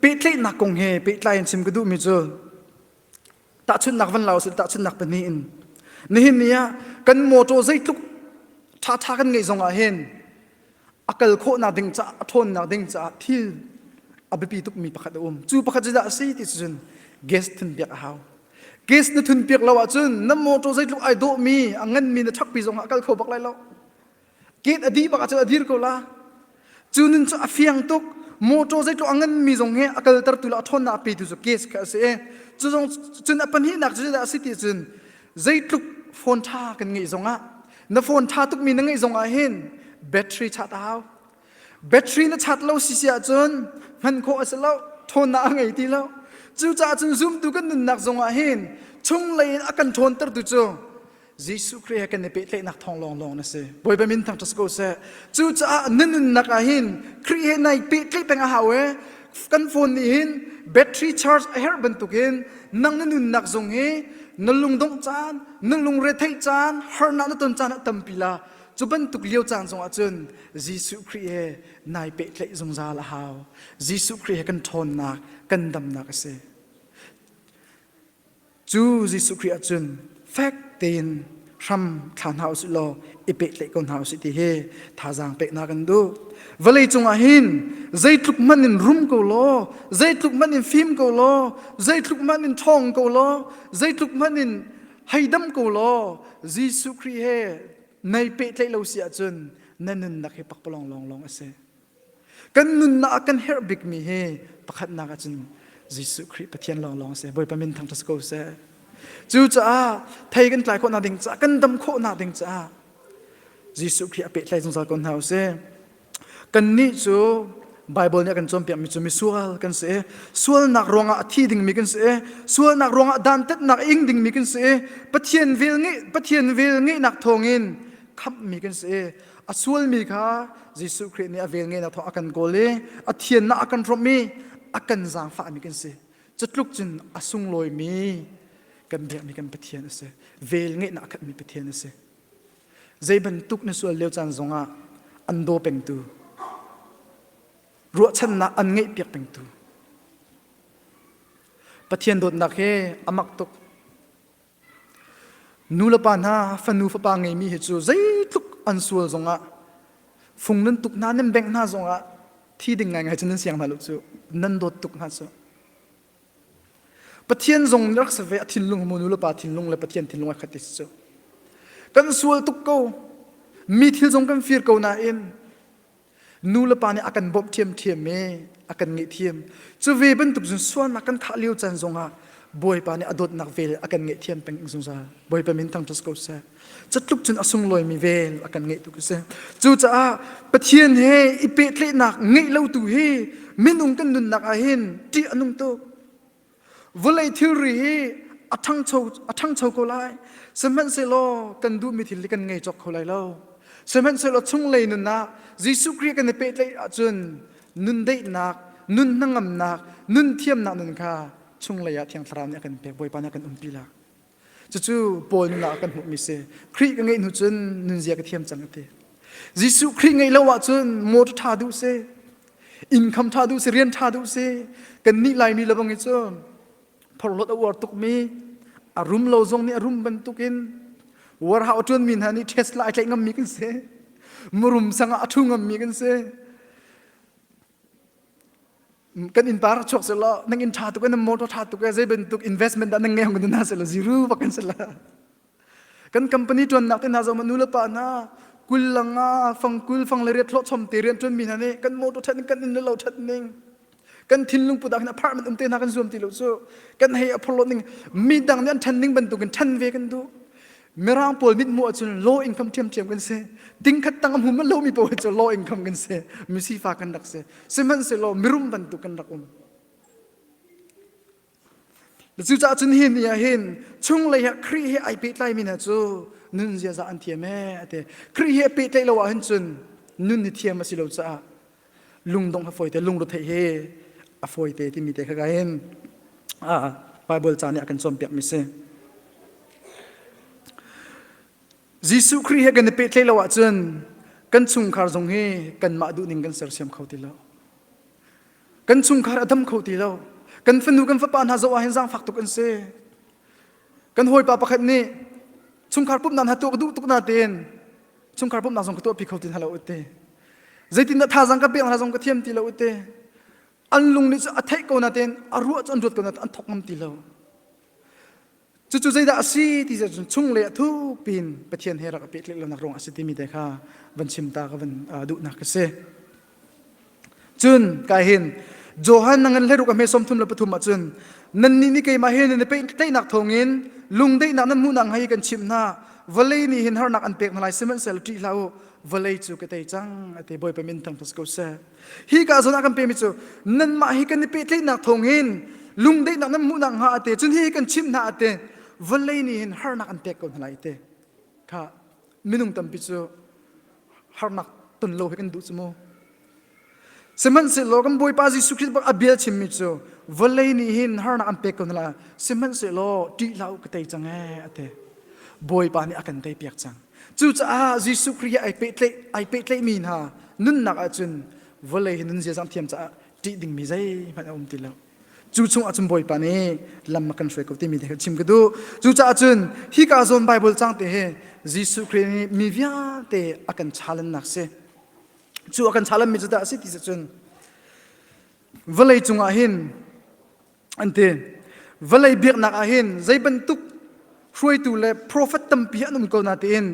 pehtlaihnak kong he pehtlai in chim ka duhmi cu tahchunhnak van la usih tahchunhnak pahnih in nihin ni ah kan mawṭaw zeitluk ṭhaṭha kan ngeih zongah hin a kal khawhnak ding caah a ṭhawnnak ding caah thil a biapi tukmi pakhat a um cu pakhat cu dah a si ti cun gas thunpiak a hau gas na thunpiak lo ahcun na mawṭaw zeitluk ai dawhmi a nganmi na chakpi zongah a kal kho bak lai lo Gate a dih bak ahcun a dir ko la. Cu nun cu a fiang tuk. Motor zeitluk a nganmi zong he a kalter tu le a ṭhawnnak a petu cu case kha a si i cu zong cun a pahnihnak cu zeidah a si ti cun zeitluk phone ṭha kan ngeih zongah na phone ṭha tukmi na ngeih zongah hin battery chat a hau. Battery na chat lo sisi ahcun hman khawh a si lo. Ṭhawnnak a ngei ti lo. Cucaah cun zumtu kan nunnak zongah hin chunglei in a kan ṭhawntertu cu Jesuh Khrih he kan i pehtlaihnak thawng lawnglawng na si. Bawipa min thang ṭas ko seh. Cucaah nan nunnak ah hin Khrih he nai pehtlaih peng a hau e. Kan phone nih hin battery charge a herh bantukin nang na nunnak zung hi na lungdongh caan, na lungretheih caan, harnak na ton caan a tampi la. Cu bantuk lio caan zongah cun Jesuh Khrih he nai pehtlaih zungzal a hau. Jesuh Khrih he kan ṭhawnnak, kan damnak a si. Cu Jesuh Khrih ahcun fek tein hram thla hna usih law i pehtlaih ko hna usih ti hi thazaang peknak an duh. Vawlei cungah hin zeitluk hmanh in rum ko law, zeitluk hmanh in fim ko law, zeitluk hmanh in ṭhawng ko law, zeitluk hmanh in heidam ko law, Jesuh Khrih he nei pehtlaih lo si ahcun na nunnak hi pakpalawng lawnglawng a si. Kan nunnak a kan herh bikmi hi pakhatnak ahcun Jesuh Khrih Pathian lawnglawng si. Bawipa min thangṭhat si ko seh. Cucaah thei kan tlai khawhnak ding caah, kan dam khawhnak ding caah Jesuh Khrih a pehtlai zungzal ko hna usih. Kannih cu Bible nih a kan cawnpiakmi cu misual kan si i sualnak ruangah a thi dingmi kan si i sualnak ruangah dantatnak a ing dingmi kan si i Pathian vel ngeih Pathian vel ngeihnak thawngin khamhmi kan si i a sualmi kha Jesuh Khrih nih a vel ngenak thawng a kan kawl i a thiannak a kan hrawmh i a kan zaangfahmi kan si cutluk cun a sunglawimi kan biakmi kan Pathian a si vel ngeihnak a khatmi Pathian a si zei bantuk na sual lio caan zongah an daw pengtu ruahchannak an ngeih piak pengtu Pathian dawtnak he a mak tuk Nulepa hna, fanu fapa ngeimi hi cu zeitluk an sual zongah fung nan tuk hna nan bengh hna zongah thi ding ngaingai cu nan siang hna lo cu nan dawt tuk hna cu Pathian zong rak se ve a thinlung mu nulepa thinlung le Pathian thinlung a khat cu kan sual tuk ko mi thil zong kan fir ko nain nulepa nih a kan bawmh ṭhiamṭhiam i a kan ngaihthiam cu ve bantuk cun sualnak kan thah lio caan zongah bawipa nih a dawtnak vel a kan ngaihthiam peng zungzal bawipa min thangṭhat ko seh catluk cun a sunglawimi vel a kan ngaih tuk a si cucaah pathian he i pehtlaihnak ngeih lo tu hi minung kan nunnak ah hin ṭih a nung tuk Vulei thilri hi a ṭhangcho a ṭhangcho ko lai. Sihmanhsehlaw kan duhmi thil hi kan ngei cawk kho lai lo. Sihmanhsehlaw chunglei nunah Jesuh Khrih kan i pehtlaih ahcun nun deihnak, nun hnangamnak, nun thiamnak nun kha chunglei ah Thiang Thlarau nih a kan pek. Bawipa nih a kan umpi lai. Cucu Paul nunah a kan hmuhmi si. Khrih ka ngeih hnu cun nunzia ka thiam cang a ti. Jesuh Khrih ngeih lo ahcun motor ṭha duh si, inkham ṭha duh si, rian ṭha duh si, kannih Laimi lebang i cu phorhlawt a uar tukmi, a rum lo zong nih a rum bantukin warhau a ṭuanmi hna nih Tesla ai tlaih ngammi kan si. Murum sang ah a ṭhu ngammi kan si. kan inn par chuak se law nang inn tha tuk nang motor tha tuk zei bantuk investment dah nang ngei hong na se la ziru ba kan se la kan company tuan nak te hna zong nu le pa na kulang a fangkul fang le riat hlawchom te rian tuan mi hna nih kan motor that kan inn lo that ning kan thinlung pudak in apartment umte na kan zuam ti lo chu kan hei aphorlo ning mi dang nih an than ning bantuk in than ve kan du Mirang pawl mithmuh ahcun law income ṭhiamṭhiam kan si. Tingkhat tang a hmumal lomi paoh cu law income kan si. Misifa kan rak si. Sihmanhsehlaw mirum bantuk kan rak um. Cucaah cun hi ni ah hin chunglei ah Khrih he ai pehtlaimi hna cu nun ziaza an thiam ee ate Khrih he pehtlaih lo ahhin cun nun hi thiam a si lo caah lungdong ha foi te lungruthei he a foi te timi te kha gain a bible ca nih a kan cawn piak mi si Jesuh Khrih he kan i pehtlaih lo ahcun kan chungkhar zong hi kanmah duh ning kan sersiam kho ti lo kan chungkhar a dam kho ti lo kan fanu kan fapa hna zoh ah hin zaangfak tuk an si kan hawipa pakhat nih chungkhar pumhnak hna tuah ka duh tuk na tein chungkhar pumhnak zong ka tuahpi kho ti hna lo ute zeitindah thazang ka pek hna zong ka thiam ti lo ute an lung nih cu a theih ko na tein a ruah cu an ruat ko na an thok ngam ti lo cucu zeidah a si ti cun chung le a thuk pin pathian he rak a pek leh lonak ruang a si timi te kha van chim ta ka van duhnak ka si Cun ka hin Johan nang in hleruk a hmesom thum le pathum ahcun nannih nih keimah he nan i pehtlaihnak thawngin lungdaihnak nan hmuhnak hnga hi kan chimh hna vawlei nih hin harnak an pek hna lai sihmanhsehla ṭih hlah u vawlei cu ka tei cang a ti bawipa min thangthas ko seh hi ka zawn ah kan pemi cu nanmah hi kan i pehtlaihnak thawngin lungdaihnak nan hmuhnak hnga a te cun hi kan chimh hna a ti vawlei nih hin harnak an pek ko hna lai a ti kha minung tampi cu harnak ton lo he kan duh cu mu sihmanhsehlaw kan bawipa jesuh khrist bak a bia chimmi cu vawlei nih hin harnak an pek ko nala sihmanhsehlaw ṭih hlah u ka tei cang ee a ti bawipa nih a kan tei piak cang cucaah jesuh khrist ai pehtlaih ai pehtlaihmi hna nunnak ahcun vawlei hi nun ziazang thiam caah ṭih dingmi zeihmanh a um ti lo cu chungah cun bawipa nih lam a kan hruai ko timi te kha chim ka duh cucaah cun hi ka zawn bible cang te hi jesuh khrih nih mi vialte a kan chalannak si cu a kan chalanmi cu dah a si ti si cun vawlei cungah hin an ti vawlei biaknak ah hin zei bantuk hruaitu le profet tampi an um ko natein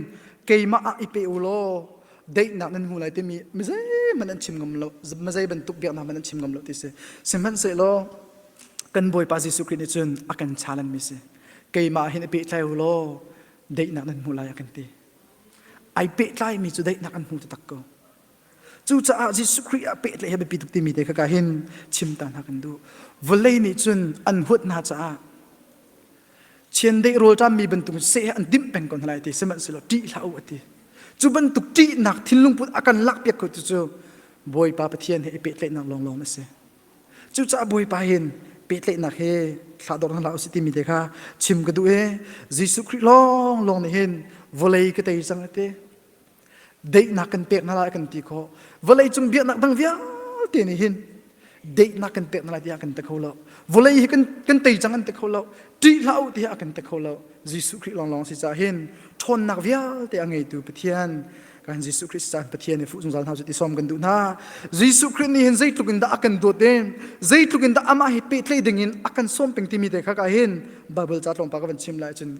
keimah ah i pe u law daihnak nan hmu lai timi mizeihmanh an chim ngam lo mazei bantuk biaknak hmanh an chim ngam lo ti si sihmanhsehlaw kan bawipa jesuh khrih nih cun a kan challenge mi si keimah hin i pehtlai u law daihnak nan hmu lai a kan ti ai pehtlai mi cu daihnak an hmu taktak ko Cucaah Jesuh Khrih ah pehle he biapi tuk timi te kha ka hin chimta hna kan duh. Vawlei nih cun an huat hna caah chiandeih rawlṭammi bantuk seh an dimh peng ko hna lai ti sihmanhsehlaw ṭih hlah u a ti. Cu bantuk ṭihnak thinlung put a kan lakpiak ko cucu Bawipa Pathian he i pehtlaihnak lawnglawng a si. Cucaah Bawipa hin pehtlaihnak he thlador hna hlah u si timi te kha chim ka duh i Jesuh Khrih lawnglawng nih hin vawlei ka tei cang a ti. Daihnak kan pek hna lai kan ti kho. Vawlei cung biaknak dang vialte nih hin daihnak kan pek hna lai tiah kan te kho lo. Vawlei hi kan kan tei cang an te kho lo. Ṭih hlah u tiah kan te kho lo. Jesuh Khrih lawnglawng si cah hin ṭhawnnak vialte a ngeitu Pathian kan Jesuh Khrist caan Pathian i fuh zungzal hna cu ti sawm kan duh hna. Jesuh Khrih nih hin zeitluk in dah a kan dawt in zeitluk in dah amah hi pehtlai ding in a kan sawm peng timi te kha ka hin Bible ca tlawmpal ka van chim lai cun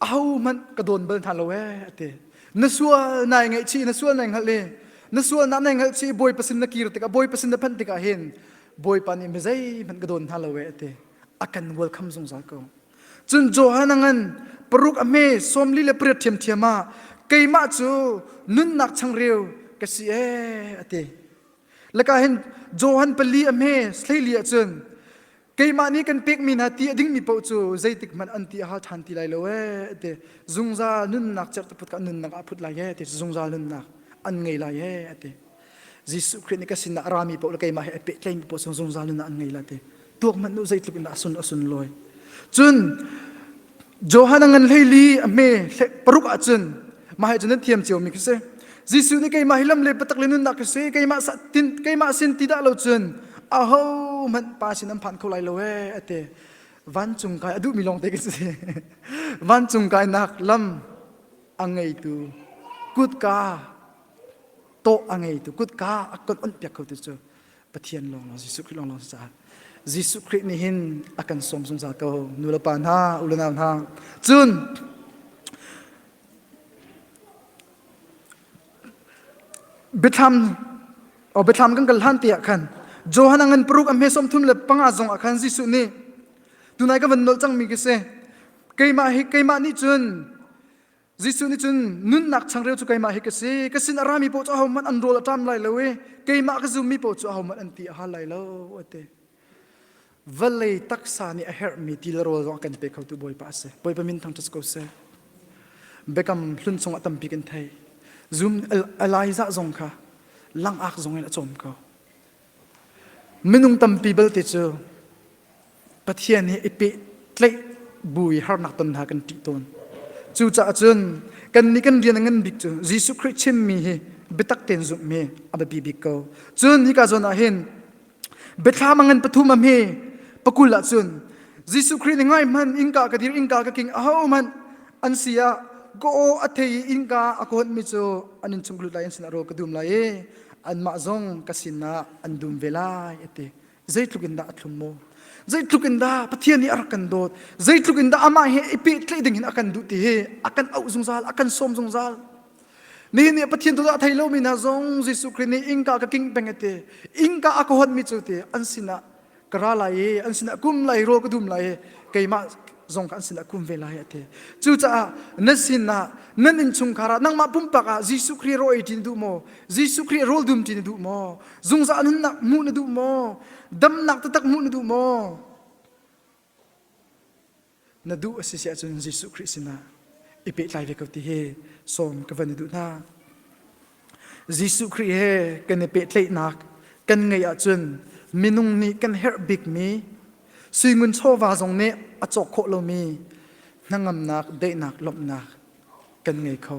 ahohmanh ka dawn bal hna lo ee ati na sual nai ngaih chi na sual nai hngalh i na sual na nai hngalh chi bawi pasin na kir tikah bawi pasin na phanh tikah hin bawipa nih mizei hmanh ka dawn hna lo ee ati a kan welcome zungzal ko cun Johan ngan paruk a hme somli le pariat thiam thiam ah keimah cu nunnak changreu ka si e ati laka hin Johan pali a hme sleili ahcun keimah nih kan pekmi hna ti a dingmi paoh cu zeitik hmanh an ti a ha ṭhan ti lai lo e te zungzal nunnak certu put ka nunnak a phut lai e te zungzal nunnak an ngei lai e te Jesuh Khrih nih ka sinah a rami paoh le keimah he a pehtlaimi paoh sung zungzal nunnak an ngei lai te tuak hmanh nu zeitluk in a sun a sun lawi cun Johan a ngan hleili a hme paruk ah cun mah he cun an thiam ciomi khi si Jesuh nih keimah hi lam le patak le nunnak khi si keimah keimah sin ti dah lo cun aho hmanh pa sin an phan kho lai lo e a ti vancung kai a duhmi lawngte khi si vancung kainak lam a ngeitu kutka tawh a ngeitu kutka a kon on piak kho tu cu Pathian lawnglawng Jesuh Khrih lawnglawng si caah Jesuh Khrih nih hin a kan sawm zungzal ko nulepa hna ulenau hna cun biathlam o biathlam kan kal hlan te ah khan Johan angan paruk a hme som thum le panga zong ah khan Jesuh nih tunai ka van nol cangmi ka si keimah hi keimah nih cun Jesuh nih cun nunnak changreu cu keimah hi ka si ka sin a rami paoh cu ahohmanh an rawl a ṭam lai lo i keimah ka zummi paoh cu ahohmanh an ti a hal lai lo a ti. Vawlei taksa nih a herhmi ti le rawl zong a kan pe khotu Bawipa a si. Bawipa min thangṭhat ko seh. Biakam hlun chung ah tampi kan thei. Zoom Elijah zong kha langak zong in a cawm ko. Minung tampi belte cu Pathian he i peh tlaih bu i harnak ton hna kan ṭih tawn. Cucaah cun kannih kan rian a ngan bik cu Jesuh Khrih chimmi hi biatak tein zumhmi a biapi bik ko. Cun hika zawn ah hin biathlam a ngan pathum am hi pakul ah cun Jesuh Khrih nih ngaihmanh innka ka dir innka ka king ahohmanh an si ah ka aw a thei i innka a kawtmi cu an in chung lut lai an sinah rawl ka dum lai i anmah zong ka sinah an dum ve lai a ti zeitluk in dah a thlum maw zeitluk in dah pathian nih a rak kan dawt zeitluk in dah amah he i pehtlaih ding in a kan duh ti hi a kan auh zungzal a kan sawm zungzal nihin nih pathian tu dah thei lomi hna zong Jesuh Khrist nih ingka ka king peng ate ingka a ka honmi cu te an sinah ka ra lai i an sinah kum lai rawl ka dum lai i keimah zong ka an sinah kum ve lai a ti cucaah nan sinah nan innchungkhar ah nangmah pumpak ah Jesuh Khrih rawl ei ṭin duh maw Jesuh Khrih rawl dum ṭin na duh maw zungzal nunnak hmuh na duh maw damnak taktak hmuh na duh maw Na duh a si si ahcun Jesuh Khrih sinah i pehtlai ve ko ti hi sawm ka van i duh hna. Jesuh Khrih he kan i pehtlaihnak kan ngeih ahcun minung nih kan herh bikmi suingun chawva zong nih a cawk khawh lomi hnangamnak, daihnak, lawmhnak kan ngei kho.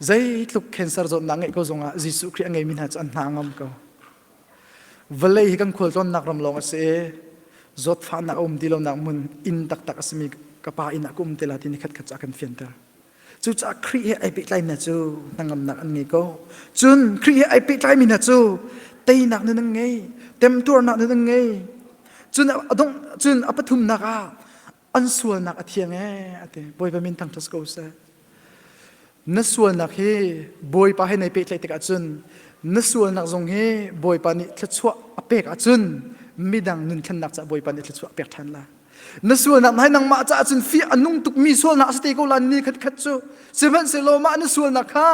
Zeitluk cancer zawtnak ngeih ko zongah Jesuh Khrih a ngeimi hna cu an hna ngam ko. Vawlei hi kan khualtlawnnak ram lawng a si i zawtfahnak a um ti lonak hmun inn taktak a simi ka pa inn ah ka um te la ti ni khatkhat ca kan fianter. Cucaah Khrih he ai pehtlaimi cu hnangamnak an ngei ko. Cun Khrih he ai pehtlaimi na cu teinak nun an ngei, temtuarnak nun an ngei. Cun a dongh cun a pathumnak ah an sualnak a thiang ee ati bawipa min thang thas ko seh na sualnak hi bawipa he nei pehtlaih tik ahcun na sualnak zong hi bawipa nih thluachuah a pek ahcun midang nun thlennak caah bawipa nih thluachuah a pek ṭhan la na sualnak na nangmah caah cun fi a nung tukmi sualnak a si te ko lan ni khat khat cu sihmanhsehlaw mah na sualnak kha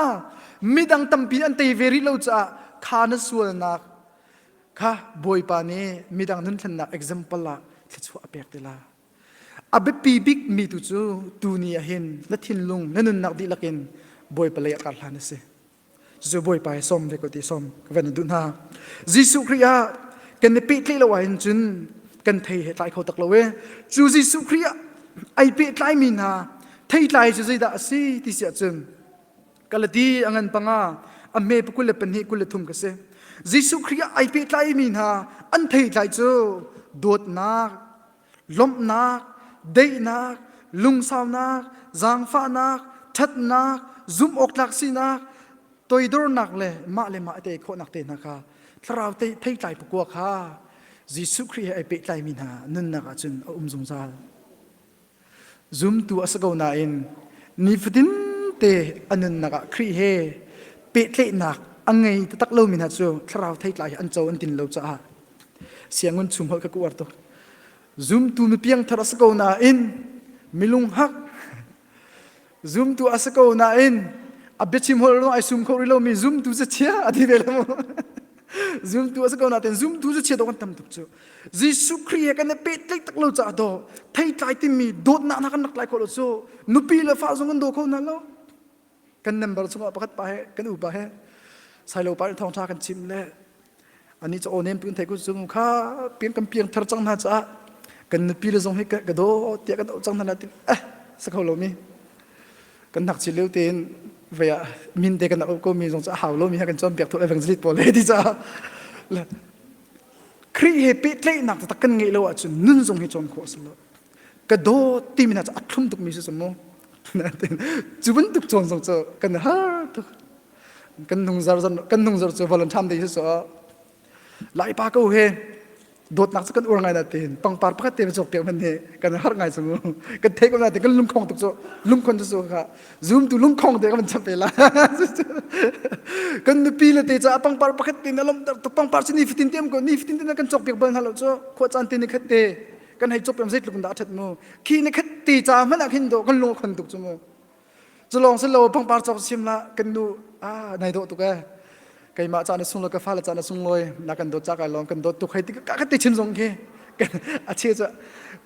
midang tampi an tei ve rih lo caah kha na sualnak kha bawipa nih midang nunthlennak example ah thluachuah a pek tila a biapi bik mi tu cu tuni ah hin na thinlung na nunnak dihlak in bawipa lei a kar hlan a si cucu bawipa he som ve ko ti som ka van duh hna jesuh khrih ah kan i pehtli lo ah hin cun kan thei he tlai kho tak lo e cu jesuh khrih ah ai pehtlai mi hna thei tlai cu zeidah a si ti siah cun Kalati a ngan panga a me pakul le pahnih kul le thum ka si. Jesuh Khrih ah ai pehtlaimi mi hna an theitlai cu dawtnak, lawmhnak, daihnak, lungsaunak, zaangfahnak, ṭhatnak, zumhawktlak sinak, toidornak le mah le mah a tei khawhnak te hna kha thlarau theitlai pakua kha Jesuh Khrih he ai pehtlaimi hna nunnak ah cun a um zungzal. Zumtu a si ko nain nifatin te a nunnak ah Khrih he pehtlaihnak a ngei taktak lomi hna cu thlarau theitlai hi an co an tin lo caah siangun chung holh ka kuar tu zumtu mi piangthar a si ko nain milung hak zumtu a si ko nain a biachim hol lo ai sum kho rih lomi zumtu za chia a ti ve lo zumtu a si ko nain zumtu za chia dawh kan tam tuk cu Jesuh Khrih he kan i pehtlaih tak lo caah do thei tlai timi dawtnak hna kan rak tlai kho lo cu nupi le fa zong kan daw kho hna lo kan nembar chungah pakhat pa he kan upa he sailo pa nih thawngtha kan chim le ani cha onen pin thai ku zung kha piang kan piang thar chang na cha kan nupi le zong hi ka do tia kan do chang na latin eh sakho lo mi kan nak chi leu ten vaya min te kan op ko mi zong cha hau lo mi ha kan chon piak tho evangelist po le ti cha kri he pe tle nak ta kan ngei lo a chu nun zong hi chon kho slo ka do ti mi na cha athlum tuk mi su mo na tin chubun tuk chon zong cha kan ha tuk kan nung zar kan nung zar cu valentine day cu lai pa ko he dawtnak cu kan uar ngai na te tongpar pakhat te cok te man he kan har ngai chung kan thei ko na te kan lungkhong tuk cu lungkhon cu ka zoom tu lungkhong te kan chap la kan nupi le te cha pangpar pakhat te na lom to pangpar chi ni fitin tem ko ni fitin te na kan chok pek ban halo chu kho chan te ni khat te kan hei chop pem zai tlukun da that mu khi ne khat te cha mana khin do kan lungkhon tuk chu mu Culong sin lo pangpar cawk sim la kan nu a nai dawh tuk e. Keimah caan a sunglo ka fale caan a sunglawi na kan dawt cak ai long kan dawt tuk hai tik ka ka ti chin zong khi a che chu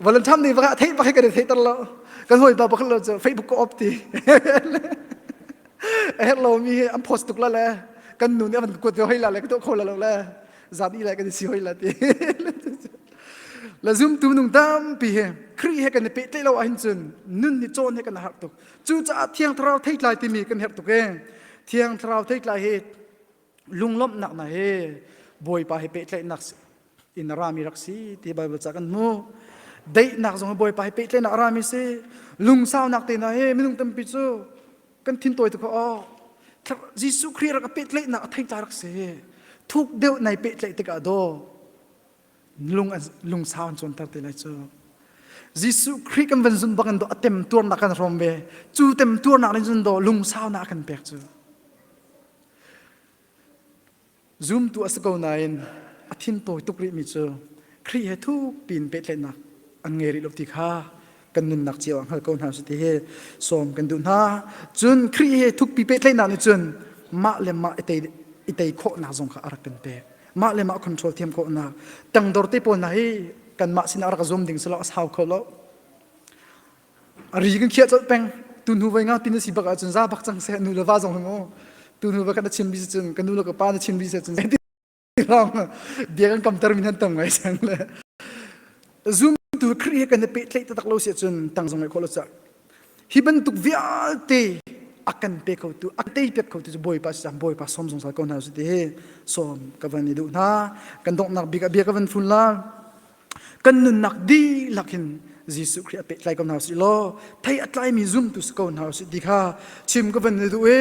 volunteer ni va thei va kai kan thei tar lo kan hoi ba bakal lo chu facebook ko op ti a her lo mi an post tuk la le kan nu nih an kuat yo hai la le ka to kho la lo le zat i lai kan si hoi la ti la zum tu nung tampi he kri he kan pe tle lo ahin cun nun ni chon he kan har tuk cu ca thiang tharau thei tlai timi kan her tuk e thiang tharau thei tlai he lunglom nak na he boipa he pe tle nak in rami rak si ti bible ca kan mu dei nak zong he boipa he pe tle nak rami si lungsau nak te na he minung tampi cu kan thin tawi tukah oh Jesuh Khrih rak a pehtlaihnak a theitla rak si thuk deuh nai pehtlaih tikah do lung lung sau an cuanter te lai cu Jesuh Khrih kan van zun bangin do a tem tuarnak kan rom ve cu tem tuarnak in zun do lung sau na kan pek cu Zumtu a si ko nain a thin tawi tuk rihmi cu Khrih he thuk piin pehtlaihnak an ngei rih lo ti kha kan nunnak cio ah hngal ko hna sih ti hi sawm kan duh hna. Cun Khrih he thukpi pehtlaihnak nih cun mah le mah i tei, i tei khawhnak zong kha a rak kan pek. Mah le mah control thiam khawhnak tangdor te pawl hna hi kanmah sinah a rak zum ding si lo a sau kho lo. A ri kan khiah colh peng. Tu hnu voi ngau tin a si bak ahcun za bak cang seh nu le va zong hung u. Tu hnu voi kan chim bisi cun kan nu le ka pa na chim bisi cun ram bia kan kam ter min han tam ngai sen le zoom tu kri kan pe tlei tak lo se cun tang zong ngai kho lo sa hi bantuk vialte akan pe kho tu atei pek kho tu cu boy pa si boy pa som zong sal ko hna su ti hi som ka van i du hna kan dongnak bik a bia ka van fun la kan nunnak dihlak in Jesuh Khrih a pehtlai ko hna sih law thei a tlaimi zumtu si ko hna sih ti kha chim ka van duh i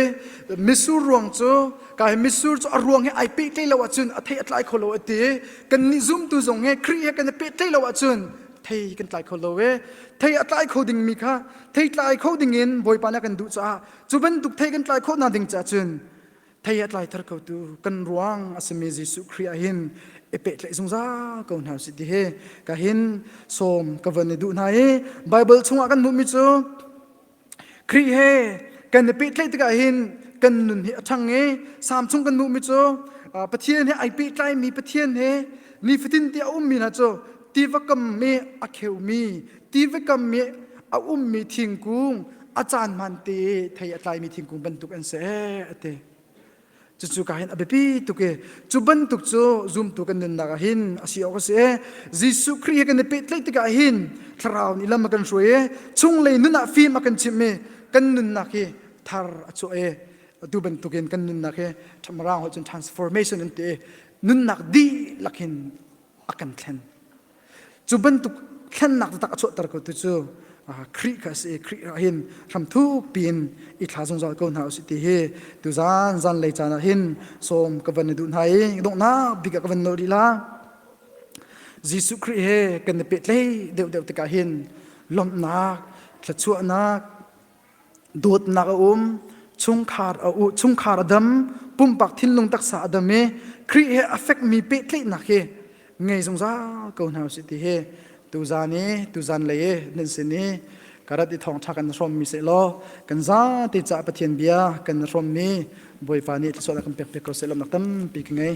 misur ruang cu kai misur cu a ruang he ai pehtlai lo ahcun a thei a tlai kho lo a ti kan nih zumtu zong he Khrih he kan i pehtlai lo ahcun thei kan tlai kho lo e thei a tlai kho dingmi kha thei tlai kho dingin Bawipa na kan duh caah cu bantuk thei kan tlai khawh hna ding caah cun thei a tlai thar ko tu kan ruang asimi Jesuh Khrih ah hin e pe tle zungza ko hna si ti he ka hin som ka van du hna i Bible chungah kan hmuhmi cu Khrih he kan pe tle tikah hin kan nun hi a thang i sam chung kan hmuhmi cu Pathian he ai pe tlaimi Pathian he nifatin ti a ummi hna cu tiva kam mi a kheumi Tivekam mi a ummi thingkung a caan man te thei a tlaimi thingkung bantuk an se ate cucu ka hin a biapi tuk i cu bantuk cu zumtu kan nunnak ah hin a si awk a si e Jesuh Khrih he kan i pehtlaih tikah hin thlarau nih lam a kan hruai i chunglei nun ah fim a kan chimh i kan nunnak hi thar a chuah e atu bantukin kan nunnak hi ṭhamraang holh cun transformation an ti i nunnak dihlak hin a kan thlen cu bantuk thlennak taktak a chuahter ko tu cu Khrih kha si Khrih ah hin hramthuk piin i thla zungzal ko hna usih ti hi tu zan zan lei caan ah hin sawm ka van na duh hna i donghnak bik ah ka van nawl lila Jesuh Khrih he kan i pehtlaih deuh deuh tikah hin lawmhnak thluachuahnak dawtnak a um chungkhar a u chungkhar a dam pumpak thinlung taksa a dam i Khrih he a fekmi pehtlaihnak hi ngei zungzal ko hna usih ti hi tuzan i tuzan lei i nan sin i karat i thongtha kan hrommi se law kan zate ca pathian bia kan hrommi bawipa nih thlasuah kan pek pek ko se lam nak tampi ka ngei